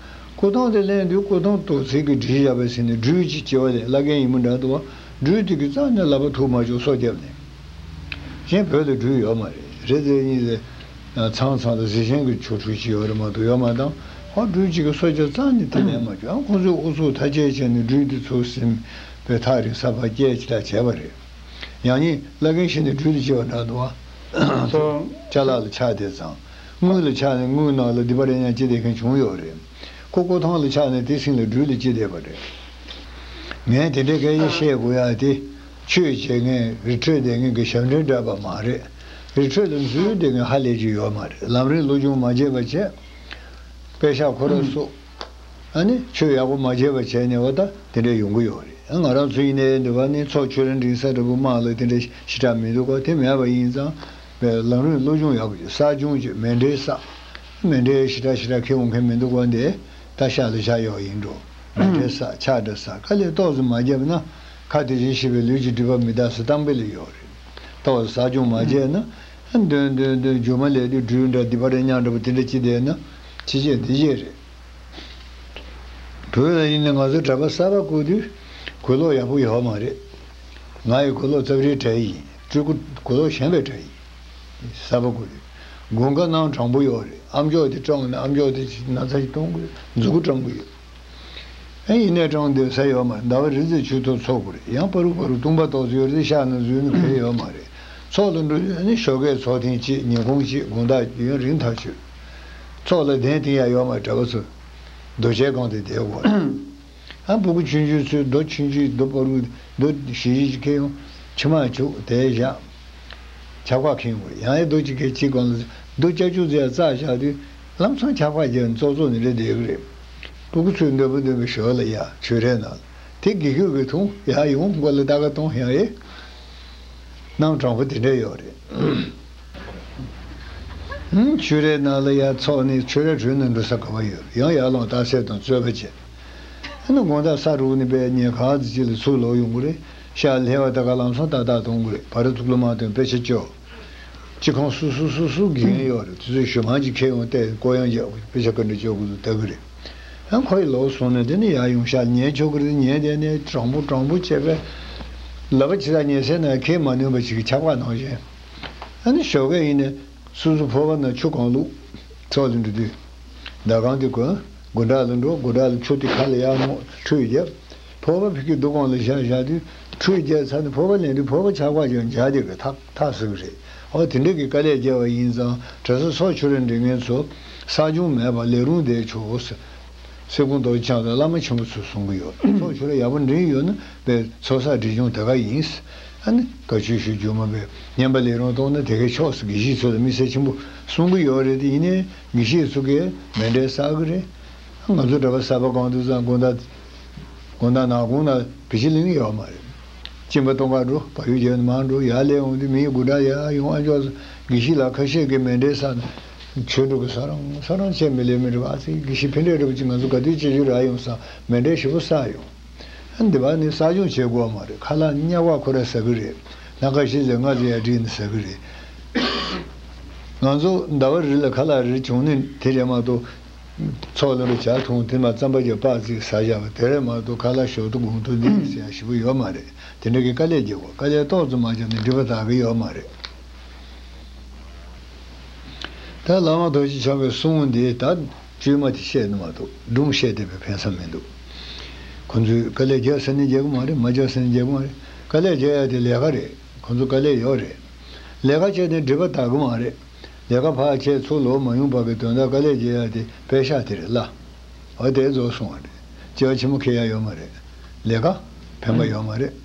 སྐུ་གདུང་དེ་གླེང་དུས་སྐུ་གདུང་དུ་ཚིག་གི་བྲིས་བཞག་པའི་ཚེ་ནི་སྦྲུལ་གྱི་སྐྱེ་བ་ལས་བླ་རྒན་ཡིན་མོད་འདྲ་འདུག་སྦྲུལ་དེ་གི་རྩ་ནས་བླ་པ་ཐུགས་མ་ཆོག་སོ་རྒྱབ་ནས་གཞན་བོད་དུ་སྦྲུལ་ཡོད་མ་རེད་རེད་རྫས་གཉིས་ལས་ཚང་ཚང་དང་གཟི་ཆེན་གི་ཆོ་འཕྲུལ་གྱི་ཡོད་རེད་མ་གཏོགས་ཡོད་མ་གཏང་ཧོ་སྦྲུལ་གཅིག་གི་སོ་སྐྱེ་རྩ་ནས་དེ་ལས་མ་ཆོག་ཡང་ཁོང་ཚོས་ཨུ་ཚུགས་ཐ་ཆད་བྱས་ནས་སྦྲུལ་དེ་ཚུར་ཟིན་པའི་ཐག་རིང་ས་བར་སྐྱེལ་ཅི་དྲག་བྱས་པ་རེད་ཡང་ཉིན་བླ་རྒན་ཞིག་ནས་སྦྲུལ་དེ་སྐྱེ་བ་འདྲ་འདུག་ཨ་ཚོགས་ལྕགས་ལག་ལ་ཕྱག་དེ་བརྫངས། དངུལ་ལ་ཆགས་ནས་དངུལ་ནག་ལ་འདི་པ་རེད་སྙམ་ཅི་བསྡད་མཁན་བྱུང་ཡོད་རེད། ཀོ་ཀོ་ཐང་ལ་ཆགས་ནས་དེ་སྲིང་ལ་སྦྲུལ་ལ་ཅི་བསྡད་པ་རེད། ངས་དེ་འདྲའི་སྐད་ཆ་བཤད་དགོས་ཡ་དེ། ཆོས་བྱེད་མཁན་རི་ཁྲོད་བསྡད་མཁན་གྱི་ཞབས་འདྲེན་འདྲ་པར་མ་རེད། རི་ཁྲོད་ལ་འཛུལ་བསྡད་མཁན་ཧ་ལས་ཅིག་ཡོད་མ་རེད་ལམ་རིང་ལོ་ཅུང་མ་བརྗེས་པར་བྱས། པད་ཤག་ཁོ་ར་སོགས། ཨ་ནི་ཆོས་ཡག་པོ་མ་བྱས་པར་བྱས་ནས་འོ་ད་དེ་འདྲ་ཡོང་གི་ཡོད་རེད་ང་རང་ཚོ་ཡིན་ནའི་འདི་བ་ནི་ཚོགས་ཆོས་རིན་སྒྲིན་ས་འདྲ་པོ་དམངས་ལ་དེ་འདྲ་ཞི་དྲག་མི་འདུག་ག་དེ་མེད་པ་ཡིན་ཙང་པའི་ལམ་རིམ་བློ་སྦྱོང་ཡག་པོ་བྱེད་གསར་བྱུང་གཅིག་མེ་འདྲའི་ས། མེ་འདྲའི་ཞི་དྲག་ཞི་དྲག་ཁེ་འོང་མཁན་མི་འདུག་བ་འདི་ད་ཤ་ལ་བཞག་ཡོག་ཡིན་འགྲོ། མེ་འདྲའི་ས་ཆགས་འདྲ་ས་ཁ་ལས་ཏོག་ཙམ་མ་བརྒྱབ་ན་ཁ་དེ་བཞིན་ཤི་བའི་ལུས་ཀྱི་སྒྲིབ་པ་མི་དག་ས་སྟངས་དཔེ་ལས་ཡོག་རེད། ཏོག་ཙམ་ཟག་སྦྱོང་མ་བྱས་ན། འདོན་འདོན་འདོན་རྒྱུ་མ་ལས་དུད་འགྲུལ་འདྲ་དི་པ་རེ་ཉག་འདྲ་པོ་དེ་འདྲ་ཅིག་བསྡད་ན་ཕྱི་རྗེས་འདི་རྗེས་རེད། བོད་ལ་ཡིན་ནས་ང་ཚོ་གྲྭ་པ་གསར་པ་བསྐོས་དུས་གོས་ལོག་ཡག་པོ་ཡོག་མ་རེད། ང་ཡི་གོས་ལོག་རྩབ་རིའི་གྲལ་ཡིན། སྤྲུལ་སྐུ་གོ་ལོག་བཞེངས་པའི་གྲྭ་ཡིན། གསར་པ་སྐུ་རེད། སྒོ་མཁའ་སྣང་དྲང་པོ་ཡོད་རེད་ཨམ་ཅོག་དེ་སྤྲང་ན་ཨམ་ཅོག་དེ་ན་ཚ་ཞིག་གཏོང་དགོས་མཛུ་གུ་སྤྲང་པོ་ཡོད། ཨེ་ཡིན་ནས་སྤྲང་འདོད་ས་ཡོད་མ་རེད་ཟླ་བ་རེ་ཚེ་ཆུ་ཐོག་འཚོ་དགོས་རེད་ཡང་པ་རུག་པ་རུག་བཏུང་པ་ཏོག་ཙེ་ཡོད་ཚེ་ཤག་ན་བཟོས་ན་གལ་ཡོད་མ་རེད་ཚོགས་ལ་འགྲོ་དུས་ནི་ཞོགས་ཀའི་ཚོགས་ཐེངས་གཅིག་ཉིན་གུང་གཅིག་དགོང་དག་རྒྱུ་ཡང་རིང་ཐག་ཆོད། ཚོགས་ལ་གདན་ཐིང་ཡ་ཡོད་མ་རེད་གྲྭ་པ་ཚོ། རྡོ་ཆས་སྒང་དེ་བསྡད་དགོས་རེད། ཨ་བུ་གུ་ཆུན་ཆུན་ཚུལ་རྡོ་ཆུན་ཆུན་རྡོ་པོ་རུ་རྡོ་བཞི་བཞི་ཅིག་ཁེ་ཡོང་ཕྱི་མ་བྱུག་དེ་བཞག་ཆག་པ་ཁེང་དགོས་ཡང་ཨེ་རྡོ་ཅིག་ཁེ་གཅིག་གང་ལ་རྡོ་བཅའ་བཅུག་ཚེ་རྩ་བཞག་དུས་ལམ་སང་ཆག་པ་རྒྱལ་ནི་ཙོག་ཙོག་ནི་རེད་དེ་གུ་རེ་བུ་གུ་ཚུལ་འདོད་པོ་འདོན་པའི་ཞོར་ལ་ཡང་ཆུ་རས་ནང་ལ་དེ་དགེ་ཁྱོད་ཀྱི་ཐུང་ཡ་ཡོང་མགོ་ལ་ད་ག་གཏོང་ཞིང་ཨེ་གནང་དྲང་པོ་དེ་འདྲ་ཡོད་རེད། ཆུ་རས་ནང་ལ་ཡ་ཚོགས་ནས་ཆུ་རས་དྲུད་ནས་འགྲོ་ས་ག་བ་ཡོད་ཡང་ཡར་ལངས་བརྟག་བསལ་དང་རྩོད་པ་བྱེད་ཨ་ནི་དགོངས་དག་ས་དྲུག་ནི་པད་ཉི་ག་ག་ཚོད་ཅིག་ལ་ཚུར་ལོག་ཡོང་དགོས་རེད་ཤག་ལྷས་བ་ད་ག་ལམ་སོང་ཏག་ཏག་གཏོང་དགོས་རེད་བར་ཚུགས་ལོ་མང་དོན་དཔེ་ཆ་སྤྱོད་ཅི་ཁང་སུ་སུ་སུ་སུ་དགེ་རྒན་ཡོད་རེད་དེ་ཚོས་ཞོ་མང་ཅིག་ཁྱེར་ཡོང་སྟེ་ཀོ་ཡང་རྒྱག་དགོས་རེད་དཔེ་ཆ་ག་འདྲ་སྤྱོད་དགོས་ཚུལ་ལྟ་གི་རེད་ཨ་ཁོ་ཡི་ལོག་སོང་ནས་དེ་ནི་ཡར་ཡོང་ཤག་ལ་ཉན་ཆོག་གི་རེད་ཉན་བསྡད་ནས་དྲང་པོ་དྲང་པོ་བྱས་པས་ལབ་པ་ཇི་ལྟར་ཉན་སའི་ནང་ཁེལ་མ་ནུས་པ་ཞིག་གི་ཁྱབ་ཁ་གནང་བཞིན་ཨ་ནི་ཞོ་གས་ཡིན་ནས། སུ་སུ་འཕོ་བ་ན་ཆུ་གང་བླུགས། ཕྱོགས་ལ་འདྲུད་དེ། ཟླ་གང་དེ་གོན། དགུན་དག་ལ་འགྲོ་དགུན་དག་ལ་ཆུ་དེ་ཁ་ལ་གཡག་མོ་ཁྲུས་བརྒྱ། འཕོ་བ་ཕིག་གི་རྡོ་གང་ལ་བཞག་བཞག་དེ། ཁྲུས་བརྒྱའི་ཚར་ནས་འཕོ་བ་ལེན་དུས་འཕོ་བ་ཆག་པ་ཀྱང་འཇགས་དེ་གི་ཐག་ཐག་ཟིན་པ་རེད། ཨོ་དེ་འདྲ་གི་དཀའ་ལས་བརྒྱལ་བ་ཡིན་ཙང་གྲྭ་ས་སོགས་ཆོས་ར་འདྲི་མཁན་ཚོ། བསགས་སྦྱོང་མེད་པར་ལས་རུང་བསྡད་ཆོག། སེ་སྐུང་རྡོ་རྗེ་འཆང་དང་བླ་མ་ཆེན་པོ་ཚོ་གསུང་གི་ཡོད་ཚོགས་ཆོས་ར་ཡག་པོ་འགྲིམ་ཡོད་ན་པའི་ཚོགས་བསགས་འགྲེལ་ཆུང་དེ་ག་ཡིན། ཨ་ནི་དགའ་བྱུས་ཞུ་རྒྱུ་མ་པའི་སྙན་པ་ལས་རུང་གཏོང་ན་དེ་གའི་ཕྱོགས་སུ་དགེ་བཤེས་ཚོ་ལ་དམིགས་བསལ་ཆེན་པོ་གསུང་གི་ཡོད་རེད་དེ་ཡིན་ནའི་དགེ་བཤེས་ཚོ་གས་མེད་འགྲེལ་བསགས་གི་རེད། ང་ཚོ་གྲྭ་པ་གསར་པ་གང་འདུག་ཙང་དགོན་བདག་དགོན་བདག་ནག་དགོན་ན་བི་ཇི་ལིང་ཡོད་མ་རེད། སྤྱིན་པ་སྟོང་ཁ་འགྲོ་བ་ཡོད་རྒྱལ་ནི་མང་འགྲོ་ཡག་ལས་འོང་དུས་མི་ཡི་དགུ་གྲངས་ཡག་ཡོང་ཨ་མཆོག་ཚོ་དགེ་བཤེས་ལགས་ཁ་ཤས་གས་མེད་འགྲེལ་བསགས་ན། ཆོས་སྒྲུབ་བཟོ་རང་བཟོ་རང་བྱས་མི་ལས་མི་འགྲུབ་ཨ་ཙི་དགེ་བཤེས་ཕན་འབྲས་སྒྲུབ་ཅིག་ང་ཚོ་དགའ་སྡུག་སྤྱི་རྒྱུ་རག་ཡོང་སང་མེ་འབྲས་ཞིབ་པོ་བསགས་ཡོང། འདི་བ་ནི་བསགས་སྦྱོང་བྱེད་དགོས་བ་མ་རེད་ཁ་ལག་སྙག་བ་ཁོ་ར་ཟ་གི་རེད་ལྷ་ཁ་ཤིན་ཟེར་སྔགས་ཟེར་ཡ་དྲིས་ནི་ཟ་གི་རེད། ང་ཚོ་ཟླ་བ་རེ་ལ་ཁ་ལག་རེ་བྱུང་ནི་དེ་རེད་མ་གཏོགས། ཚོགས་ལ་རུ་བྱ་ཐུང་དེ་མ་རྩམ་པ་བརྒྱ་སྤག་རྩིག་ཟ་བཞག་པ་དེ་རེད་མ་གཏོགས་ཁ་ལག་ཞོག་ཏུ་དགུང་ཐུང་འདི་རེད་ཟེར་ཡ་ཞིབ་པོ་ཡོད་མ་རེད་དེ་འདྲ་གི་དཀའ་ལས་བརྒྱབ་བ་དཀའ་ལས་ཏོག་ཙམ་མ་བརྒྱབ་ནི་འགྲིབ་པ་དག་གི་ཡོད་མ་རེད། ད་བླ་མ་རྡོ་རྗེ་འཆང་བའི་གསུང་འདི་དག་བཅོས་མ་དེ་བཤད་ནི་མ་གཏོགས་སྒྲུང་བཤད་བསྡད་པའི་ཕན་བསམ་མི་འདུག། ཁོང་ཚོས་དཀའ་ལས་རྒྱག་ཟེར་ནས་རྒྱག་གི་མ་རེད་མ་རྒྱག་ཟེར་ནས་རྒྱག་གི་མ་རེད་དཀའ་ལས་རྒྱག་ཡ་དེ་ལས་ཀ་རེད་ཁོང་ཚོ་དཀའ་ལས་ཡོད་རེད་ལས་ཀ་བྱས་ནས་འགྲིབ་པ་དག་གི་མ་རེད་ལས་ཀ་བག་ཆད་ཚུགས་ལོག་མ་ཡོང་བར་གི་དོན་དག་དཀའ་ལས་རྒྱག་ཡ་དེ་པད་ཤག་དེ་རེད་ལ་བ་དེ་རྫོགས་སོང་བ་རེད་སྐྱེ་བ་ཆེན་མོ་ཁེལ་ཡ་ཡོད་མ་རེད་ལས་ཀ་ཕན་པ་ཡོད་མ་རེད།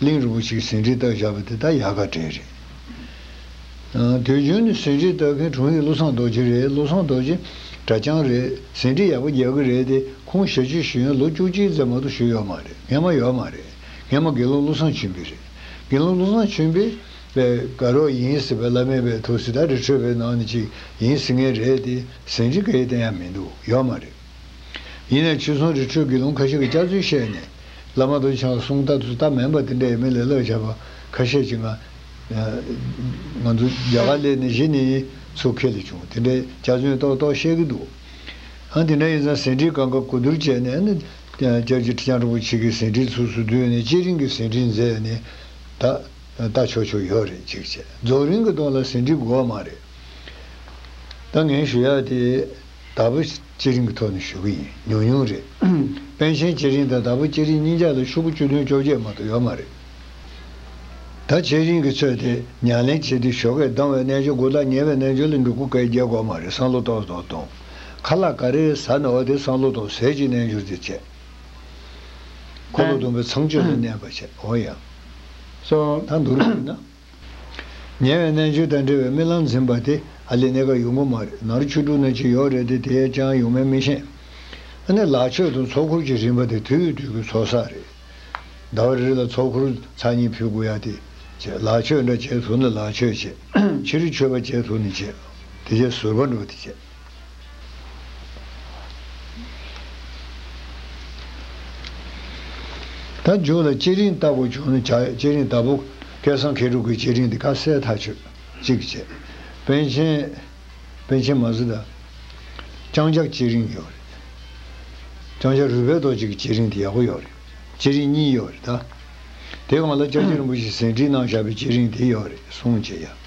གླིང་རིན་པོ་ཆེའི་ཟིན་བྲིས་བཏགས་བཞག་པ་དེ་དག་ཡག་ག་དྲན་རེད། དུས་རྒྱུན་ནས་ཟིན་བྲིས་བཏགས་མཁན་དྲུང་ཡིག་བློ་བཟང་རྡོ་རྗེ་རེད་བློ་བཟང་རྡོ་རྗེ། གྲྭ་རྐྱང་རེད་ཟིན་བྲིས་ཡག་པོ་རྒྱག་གི་རེད་དེ་ཁོང་ཞལ་ཕྱེ་ཞུ་ཡོན་ལོ་བཅུ་གཅིག་ཙམ་མ་གཏོགས་ཞུ་ཡོད་མ་རེད་ངས་མ་ཡོད་མ་རེད་ངས་མ་དགེ་སློང་བློ་བཟང་ཆོས་འཕེལ་རེད་དགེ་སློང་བློ་བཟང་ཆོས་འཕེལ། པའི་དགའ་རོགས་ཡིན་ཟེར་བའི་བླ་མའི་པའི་ཐུགས་སྲས་ད་རེ་འཕྲོས་པའི་ནང་ནས་ཅིག་ཡིན་ཟེར་ངེས་རེད་དེ་ཟིན་བྲིས་འགའ་ཡི་བསྟན་ཡག་མིན་འདུག་ཡོད་མ་རེད། ཡིན་ནས་ཕྱི་སོང་རི་ཁྲོད་དགེ་སློང་ཁ་ཤས་ཀྱིས་བསྐྱར་ཚུལ་བཤད་ནས། བླ་མ་བོན་ཆང་བསྲུང་སྟབས་སུ་སྟབས་མེད་པ་དེ་འདྲ་ཡིན་མིན་ལ་བསླབ་བྱ་བ་ཁ་ཤས་ཀྱིས་ང། ང་ཚོ་རྒྱ་གར་ལས་ནི་གཞི་ནས་ཚུགས་ཁེལ་བྱུང་དེ་འདྲའི་རྒྱ་མཚོན་ཏོག་ཏོག་བཤད་ཀྱི་འདུག་ཨང་དེ་འདྲ་ཡིན་ཙང་ཟིན་བྲིས་གང་དགའ་གོ་བསྡུར་བྱས་ནས་ཨ་ཀྱཱ་ཀྱི་ཁྲི་བྱང་རིན་པོ་ཆེ་གི་ཟིན་བྲིས་ཚུགས་སུ་བསྡུས་ནས་སྤྱི་རིང་གི་ཟིན་བྲིས་མཛད་ནས་ད་ལྟ་ཆོག་ཆོག་ཡོད་རེད་གཅིག་བྱས་རྫོགས་རིང་གི་ཐོག་ལ་ཟིན་བྲིས་དགོས་བ་མ་རེད། ད་ངས་ཞུ་ཡག་དེ། དྭ་བུ་སྐྱེ་རིང་གི་ཐོག་ནས་ཞུ་གི་ཡིན་ཉུང་ཉུང་རེད། པན་ཆེན་སྐྱེ་རིང་དང་དྭ་བུ་སྐྱེ་རིང་གཉིས་ཀྱང་ལོ་ཕྱུག་པོ་བཅུ་བདུན་བཅོ་བརྒྱད་མ་གཏོགས་ཡོད་མ་རེད། ད་བྱེད་རིང་གི་ཚོད་དེ་ཉག་ལེན་བྱེད་དུས་ཞོགས་ཀས་སྡང་བའི་རྣལ་འབྱོར་དགུ་དང་ཉེ་བའི་རྣལ་འབྱོར་ལ་འབྲུ་དགུ་བཀའི་རྒྱས་དགོས་མ་རེད་སང་ལོ་ཏོག་ཟོ་དང། ཁ་ལག་ག་རེ་རེ་ཟ་ནའོ་དེ་སང་ལོ་ཏོག་ཟས་ཀྱི་རྣལ་འབྱོར་དེ་བྱས། འཁོར་ལོ་བསྡོམས་པའི་ཚངས་སྤྱོད་ལ་གནས་པ་བྱས་འོ་ཡང། སོང་ད་འདུག་རོགས་ཡིན་ན། ཉེ་བའི་གནས་མཆོད་དང་འབྲེལ་བའི་རྨི་ལམ་འཛིན་པ་དེ་ཨ་ལི་གནས་ཀ་ཡུག་མགོ་མ་རེད་ནར་ཆུ་འབྲུག་ནས་ཅི་ཡོག་རེད་དེ་དེའི་ཅང་ཡུག་མའི་རྨི་ཤེས་ཨ་ནི་ལག་ཆོད་དང་ཚོགས་འཁོར་གྱི་རིམ་པ་དེ་དུས་དུས་ཀྱི་ཚོགས་བསགས་རེད། ཟླ་བ་རེ་རེ་ལ་ཚོགས་འཁོར་ཚར་གཉིས་ཕུལ་དགོས་ཡ་དེ་བྱས་ལག་ཆོད་འདྲ་བྱས་ཐུག་ན་ལག་ཆོད་བྱས་ཕྱི་རུ་མཆོད་པ་བྱས་ཐུག་ནས་བྱས་དེ་བྱས་ཟུར་པ་འགྲོ་དེ་བྱས། ད་མཇུག་ལ་བསྐྱེད་རིམ་ལྟ་བུ་བྱུང་ན་བྱ་བསྐྱེད་རིམ་ལྟ་བུ། སྐལ་བཟང་མཁས་གྲུབ་ཀྱི་བསྐྱེད་རིམ་འདི་ཁ་གསལ་ཐག་ཆོད་གཅིག་བཅས་པཎ་ཆེན། པན་ཆེན་མ་གཟི་དང། ལྕང་སྐྱ་བསྐྱེད་རིམ་ཡོད་རེད། ལྕང་སྐྱ་རུས་པའི་རྡོ་གཅིག་གི་བསྐྱེད་རིམ་དེ་ཡག་པོ་ཡོད་རེད། བསྐྱེད་རིམ་གཉིས་ཡོད་རེད་ད། དེ་གང་ལ་ལྕགས་ཀྱི་རིན་པོ་ཆེ་ཟིན་བྲིས་གནང་བཞག་པའི་བསྐྱེད་རིམ་དེ་ཡོད་རེད་གསུངས་བྱས་ཡ།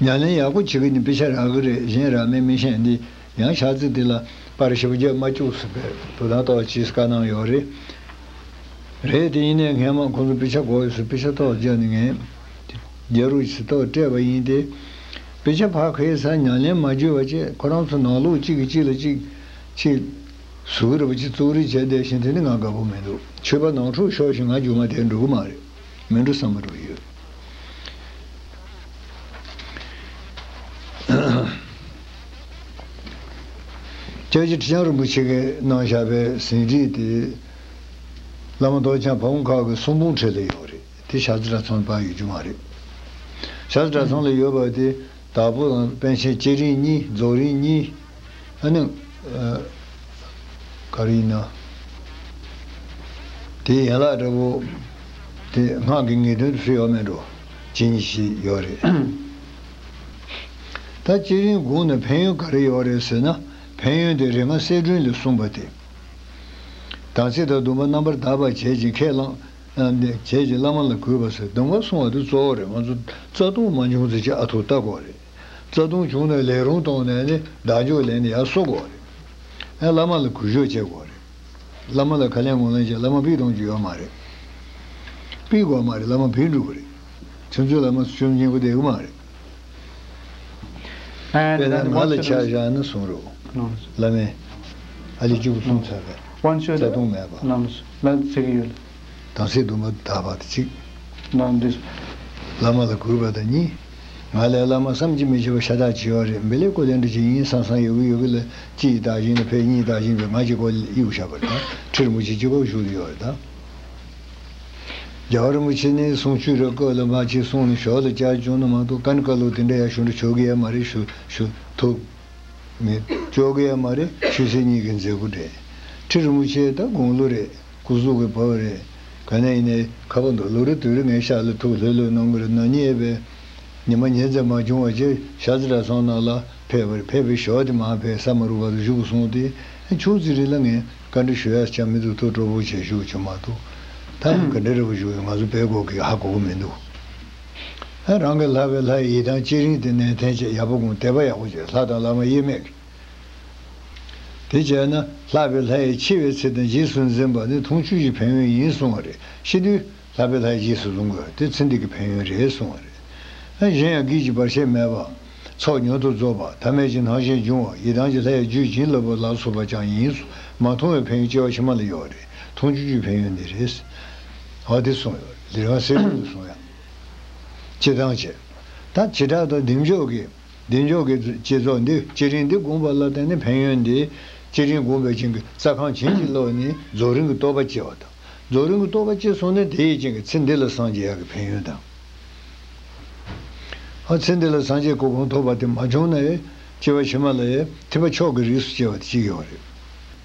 ཉྭ་ལེན་ཡག་པོ་བྱེད་གི་ནི་དཔེ་ཆ་རག་གི་རེད་གཞན་རག་མེད་མི་ཤེས་འདི་ཡང་ཆག་ཚེ་དེ་ལ་པར་ཞིབ་རྒྱས་མ་བཅུག་ཟེར་པའི་དོ་དང་ཏོག་ཅིས་བཀའ་གནང་ཡོག་རེད་རེད་དེ་ཡིན་ནའི་ངན་མང་ཁོང་ཚོ་དཔེ་ཆ་འགོག་ཡོད་ཟེར་དཔེ་ཆ་ཏོག་བརྒྱབ་ནི་ངན་རྒྱལ་རུ་ཆེ་ཏོག་སྤྲད་པ་ཡིན་ཏེ་དཔེ་ཆ་ཕ་ཁེ་ས་ཉྭ་ལེན་མ་བརྒྱུད་བ་བཅས་ཁོ་རང་ཚོ་ནང་ལུག་གཅིག་གི་གཅིག་ལ་གཅིག་ཕྱི་གཟུགས་རེད་པ་ཅིག་བཙུག་རེས་བྱས་བསྡད་བཞིན་དེ་ནི་ང་དགའ་པོ་མི་འདུག་ཆོས་པ་ནང་འཁྲུག་ཤོར་བཞིན་ང་རྒྱུག་མ་དེ་འགྲོ་གི་མ་རེད། མི་འགྲོ་བསམ་བློ་ཡོད། སྐྱབས་རྗེ་ཁྲི་བྱང་རིན་པོ་ཆེ་གིས་གནང་བཞག་པའི་ཟིན་བྲིས་དེ། བླ་མ་མདོ་བྱང་ཕ་བོང་ཁག་གི་གསུང་འབུམ་ཁྲོད་དུ་ཡོད་རེད་དེ་ཤར་རྩེ་གྲྭ་ཚང་ལ་པར་ཡོད་རྒྱུ་མ་རེད། ཤར་རྩེ་གྲྭ་ཚང་ལ་ཡོད་པ་དེ་དྭགས་པོ་དང་པཎ་ཆེན་སྐྱེས་རིང་གཉིས་རྫོགས་རིང་གཉིས། ཨ་ནི། ག་རེ་ཡིན་ན། དེ་ཡན་ལག་འདྲ་པོ། དེ་སྔགས་ཀྱི་ངེས་དོན་དུ་སུ་ཡོད་མེད་འགྲོ། ཇི་སྙེད་ཞིག་ཡོད་རེད། ད་སྤྱིར་རིན་གོང་ནས་ཕན་ཡོན་ག་རེ་ཡོད་རེད་ཟེར་ན། ཕན་ཡོན་དེ་རེ་ང་གསལ་སྒྲོན་ལས་གསུངས་པ་དེ། དམ་ཚིག་དང་སྡོམ་པ་རྣམ་པར་དག་པ་བྱེད་ཅིང་ཁས་བླངས། བྱེད་ཅིང་བླ་མ་ལ་གུས་པར་བསོད་སྡོམ་འགའ་གསུངས་བ་དེ་གཙོ་བོ་རེད་ང་ཚོ་རྩ་ལྟུང་མ་འབྱུང་ཚེ་ཅི་ཨ་ཐུག་ལྟ་དགོས་རེད། རྩ་ལྟུང་བྱུང་ན་ལས་རུང་གཏོང་ནས་ནི་བདག་འཇོག་ལེན་ནི་ཡང་གསོ་དགོས་པ་རེད། ཡང་བླ་མ་ལ་གུས་ཞོག་བྱེད་དགོས་པ་རེད། བླ་མ་ལ་ཁ་ལན་ངོ་ལན་བྱས་བླ་མ་བིས་གཏོང་རྒྱུ་ཡོད་མ་རེད། བིས་དགོས་མ་རེད་བླ་མ་བིས་འགྲུབ་པ་རེད། ཁྱོད་ཚོའི་བླ་མ་ཚོ་བཅོམ་ཆེན་པོ་དེ་ཨེ་མ་རེད། དཔེར་ན་ང་ལ་ཆ་བཞག་ན་གསུངས་རོགས། བླ་མས། ཨ་ལི་བཅུ་གསུམ་ཚར་བས་རྩ་ལྟུང་མེད་པ། དམ་ཚིག་སྡོམ་པ་དག་པ་གཅིག། སྣང་འདུས། བླ་མ་ལ་གུས་པ་དང་གཉིས། ང་ལས་བླ་མ་བསམ་གྱིས་མི་ཁྱབ་པ་ཤ་སྟག་བྱེད་པ་རེད་འབེ་ལེགས་སྐུ་ལས་འབྲས་ཇི་སྙེད་སང་སང་ཡོད་གི་ཡོད་གི་ལ་སྤྱི་ཡི་བདག་བཞིན་ལ་ཕའི་སྙིང་བདག་བཞིན་པའི་ང་གཅིག་ཁོ་གཡུག་ཞབས་པར་དང་ཁྲིར་མུ་ཁྱི་གཅིག་ཁོག་ཞུགས་ལ་ཡོད་པར་དང། རྒྱ་བར་མུ་ཁྱི་ནས་གསུང་ཆོས་ར་བཀོད་ལ་མ་ཁྱི་གསུང་ནས་ཞོག་ལ་བསྐྱར་བྱུང་ན་མ་ཏོག་ཀན་བཀའ་སློབ་དེ་འདྲ་ཡག་ཞུ་འདྲ་ཆོ་གི་ཡ་མ་རེད་ཞུ་ཞུ་ཐུབ། ངས། ཅོག་གི་ཡ་མ་རེད་ཞུས་ཚེ་གཉིས་ཀའི་མཛད་སྒོ་འགྲན། ཁྲིར་མུ་ཁྱི་ད་དགུང་ལོ་རེད། སྐུ་གཟུགས་ཀྱི་བུ་རེད། ག་ནས་ཡིན་ནའི། ཁ་པོ་འདུག་ལོ་རེ་དུས་རེ་ངའི་ཤག་ལ་ཐུག་ལྷོད་ལྷོད་གནང་གི་རེད་ནག་ཉེས་པས། ཉི་མ་ཉལ་འཛད་མ་བྱུང་བར་སྤྱིར་ཤག་ཙི་གྲྭ་ཚང་ནང་ལ་ཕེབས་པར་ཕེབས་པའི་ཞོར་དུ་མ་ཕེབས་ས་མ་རུ་བར་དུ་བཞུགས་སོང་སྟེ། ཕྱོགས་ཙི་རི་ལ་ངས་བཀའ་འདྲི་ཞུ་ཡར་ཆགས་མི་འདུག་ཐུགས་སྤྲོ་པོ་བྱས་བཞུགས་བྱུང་མ་གཏོགས། ད་ཡང་ག་འདྲའི་རེ་བ་ཞུ་ཡོད་ང་ཚོ་པས་གོ་གི་ཧ་གོ་གི་མི་འདུག། རང་གི་ལྷ་བས་ལྷ་ཡི་ཡིད་དང་བཅས་རིང་དེ་ནས་ཐན་ཆད་ཡག་པོ་དགོངས་དད་པ་ཡག་པོ་བྱས་ལྷ་དང་བླ་མ་དབྱེར་མེད་ཀྱིས། དེ་བྱས་ན་ལྷག་པའི་ལྷ་ཡིས་འཆི་བའི་ཚེ་དང་རྗེས་སུ་འཛིན་པ་ནི་འཐུང་ཆུ་ཡི་ཕན་ཡོན་ཡིན་གསུང་བ་རེད་ཤི་དུས་ལྷག་པའི་ལྷའི་རྗེས་སུ་ལུང་དགོས་དེ་ཚེ་འདི་གི་ཕན་ཡོན་རེད་གསུང་བ་རེད། གཞན་ཡང་གིས་ཀྱི་བར་ཆད་མེད་པ། ཚོགས་ཉུང་དུ་རྫོགས་པ་ཐ་མལ་གྱི་སྣང་ཞེན་འབྱུང་བ་ཡི་དྭགས་ཀྱི་ལྷའི་རྒྱུད་བྱིན་རླབས་པ་ལ་སོགས་པ་ཅང་ཡིན་གསུང་མ་མཐོང་བའི་ཕན་ཡོན་སྐྱེ་བ་ཕྱི་མ་ལ་ཡོད་རེད་འཐུང་ཆུ་ཆུའི་ཕན་ཡོན་ནི་རེད་གསུང་བ་དེ་གསུང་ཡོད་རེད་འདིར་ཡང་གསལ་སྟོན་དུ་གསུང་ཡང། སྤྱི་དང་བྱེ་བྲག་དང་བདེ་མཆོག་གི། བདེ་མཆོག་གི་བསྐྱེད་རྫོགས་འདི་སྤྱི་རིང་འདི་དགོངས་པ་ལ་བརྟེན་ནས་ཕན་ཡོན་འདི། སྤྱི་རིང་དགོངས་པའི་སྤྱན་གྱི་རྩ་ཁང་བྱིན་གྱིས་རློབས་ནས་རྫོགས་རིང་གི་རྟོགས་པ་སྐྱེ་བ་དང། རྫོགས་རིང་གི་རྟོགས་པ་སྐྱེས་སོང་ནས་དེ་ཡི་སྤྱན་གྱི་ཚེ་འདི་ལ་སངས་རྒྱས་ཡག་གི་ཕན་ཡོན་དང། ཚེ་འདི་ལ་སངས་རྒྱས་སྐུ་གོང་མཐོ་བ་དེ་མ་བྱུང་ན། སྐྱེ་བ་ཕྱི་མ་ལ། ཐེག་པ་མཆོག་གི་རིགས་སུ་སྐྱེ་བ་དེ་གཅིག་ཡོད་རེད།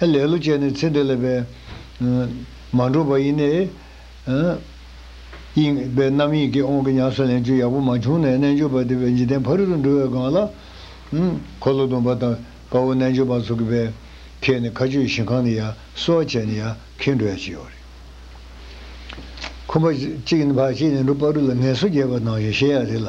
ཧེ་ལེ་ལོ་ཅན་ནི་ཚེ་འདི་ལ་བས། མ་འགྲོ་བ་ཡིན་ནས། དབྱིངས། པའི་རྣམ་གཡེང་གིས་དབང་གི་ཉམས་སུ་ལེན་རྒྱུ་ཡག་པོ་མ་བྱུང་ནས་རྣལ་འབྱོར་པ་དེ་བས་འཇིག་རྟེན་ཕ་རོལ་ཏུ་འགྲོ་བའི་སྒང་ལ། འཁོར་ལོ་སྡོམ་པ་དང་དཔའ་བོ་རྣལ་འབྱོར་པ་ཚོ་གི་བས། ཁྱེད་ནི་མཁའ་སྤྱོད་ཞིང་ཁང་ནས་ཡང་གསོལ་བ་བྱས་ནས་ཡང་ཁེངས་འགྲོ་ཡང་ཅི་ཡོད་རེད། ཁོ་པ། གཅིག་ནི་བར་གཅིག་ནས་འགྲོ་དཔའ་རུ་ལ་ངལ་གསོ་རྒྱས་པར་གནང་ཞེས་བཤད་ཡག་རེད་ལ།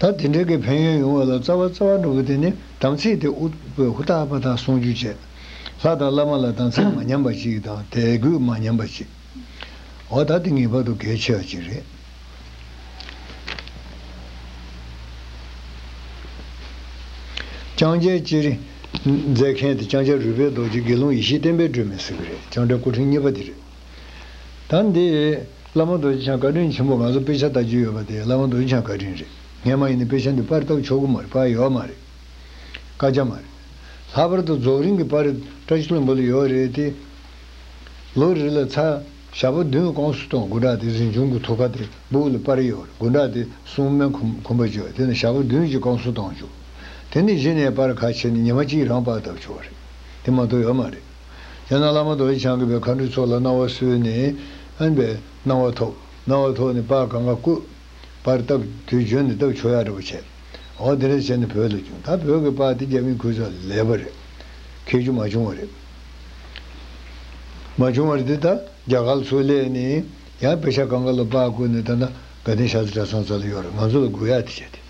ད་དེ་འདྲའི་གི་ཕན་ཡོན་ཡོང་བ་ལ་རྩ་བ་རྩ་བ་འགྲོ་བོ་དེ་ནི་དམ་ཚིག་དེ་ཨུཏྤལ་ཧཱུྃ་རྟག་པ་དང་ཟུང་འཇུག་བྱེད། ལྷ་དང་བླ་མ་ལ་དམ་ཚིག་མ་ཉམས་པ་གཅིག་དང་དད་གུས་མ་ཉམས་པ་གཅིག། འོ་ད་དེ་ངེས་པར་དུ་གལ་ཆེ་བ་གཅིག་རེད། ལྕང་སྐྱའི་སྤྱི་རི། མཛད་མཁན་དེ་ལྕང་སྐྱ་རུས་པའི་རྡོ་རྗེ་དགེ་སློང་ཡེ་ཤེས་བསྟན་པའི་སྒྲོན་མེ་ཟེར་གྱི་རེད་ལྕང་སྐྲ་སྐུ་ཕྲེང་གཉིས་པ་དེ་རེད། ད་འདི། བླ་མ་རྡོ་རྗེ་འཆང་བཀའ་དྲིན་ཆེན་པོ་ང་ཚོ་དཔེ་ཆ་ལྟ་རྒྱུ་ཡོད་པ་དེ་བླ་མ་རྡོ་རྗེ་འཆང་བཀའ་དྲིན་རེད་ངས་མ་ཡིན་ནི་དཔེ་ཆ་འདི་པར་བཏབ་ཆོག་གི་མ་རེད་པར་ཡོད་མ་རེད། བཀའ་རྒྱ་མ་རེད། ལྷག་པར་དུ་རྫོགས་རིང་གི་པར་བཀྲ་ཤིས་བློན་པོ་ལ་ཡོད་རེད་དེ། ལོ་རེ་ལ་ཚ། ཞག་པོ་བདུན་སྐོང་སུ་གཏོང་དགུ་དྲག་དེ་གཟིམ་ཆུང་གི་ཐུགས་ཁ་དེ་སྦུག་ལ་པར་ཡོད་དགུ་དྲག་དེ་སྲུང་སྨན་ཁུམ་པ་བཅོས་དེ་ནས་ཞག་པོ་བདུན་གཅིག་སྐོང་སུ་གཏོང་བཅུག་དེ་ནས་གཞི་ནས་པར་ཁ་ཕྱེ་ནས་ཉི་མ་གཅིག་རང་པར་བཏབ་ཆོག་རེད་དེ་མ་གཏོགས་ཡོད་མ་རེད། ཡང་ན་བླ་མ་མདོ་དབྱེ་འཆང་གི་བའི་མཁའ་འགྲོའི་ཚོགས་ལ་སྣང་བ་གསོལ་ནས། ཨན་པས། སྣང་བ་ཐོབ། སྣང་བ་ཐོབ་ནས་པར་གང་ག་བཀོད། པར་བཏབ། དུས་བྱོན་ནས་བཏབ་ཆོས་ཡག་འདྲ་པོ་བྱས། འོ་དེ་འདྲ་བྱས་ནས་བོད་ལ་བྱུང་ད་བོད་གི་པར་དེ་རྒྱ་མིས་ཁུར་ཙང་ལས་པ་རེད། ཁེགས་རྒྱུ་མ་བྱུང་བ་རེད། མ་བྱུང་བ་རེད་དེ་ད་རྒྱ་གར་ཚོས་ལས་ནས། ཡང་པེ་ཤ་གང་ག་ལ་པར་བཀོད་ནས་ད་ནང་དགའ་ལྡན་ཤ་ཚ་གྲ་ཚང་ཙ་ལ་ཡོད་རེད་ང་ཚོ་ལ་དགོས་ཡག་དེ་བྱས་ཏེ།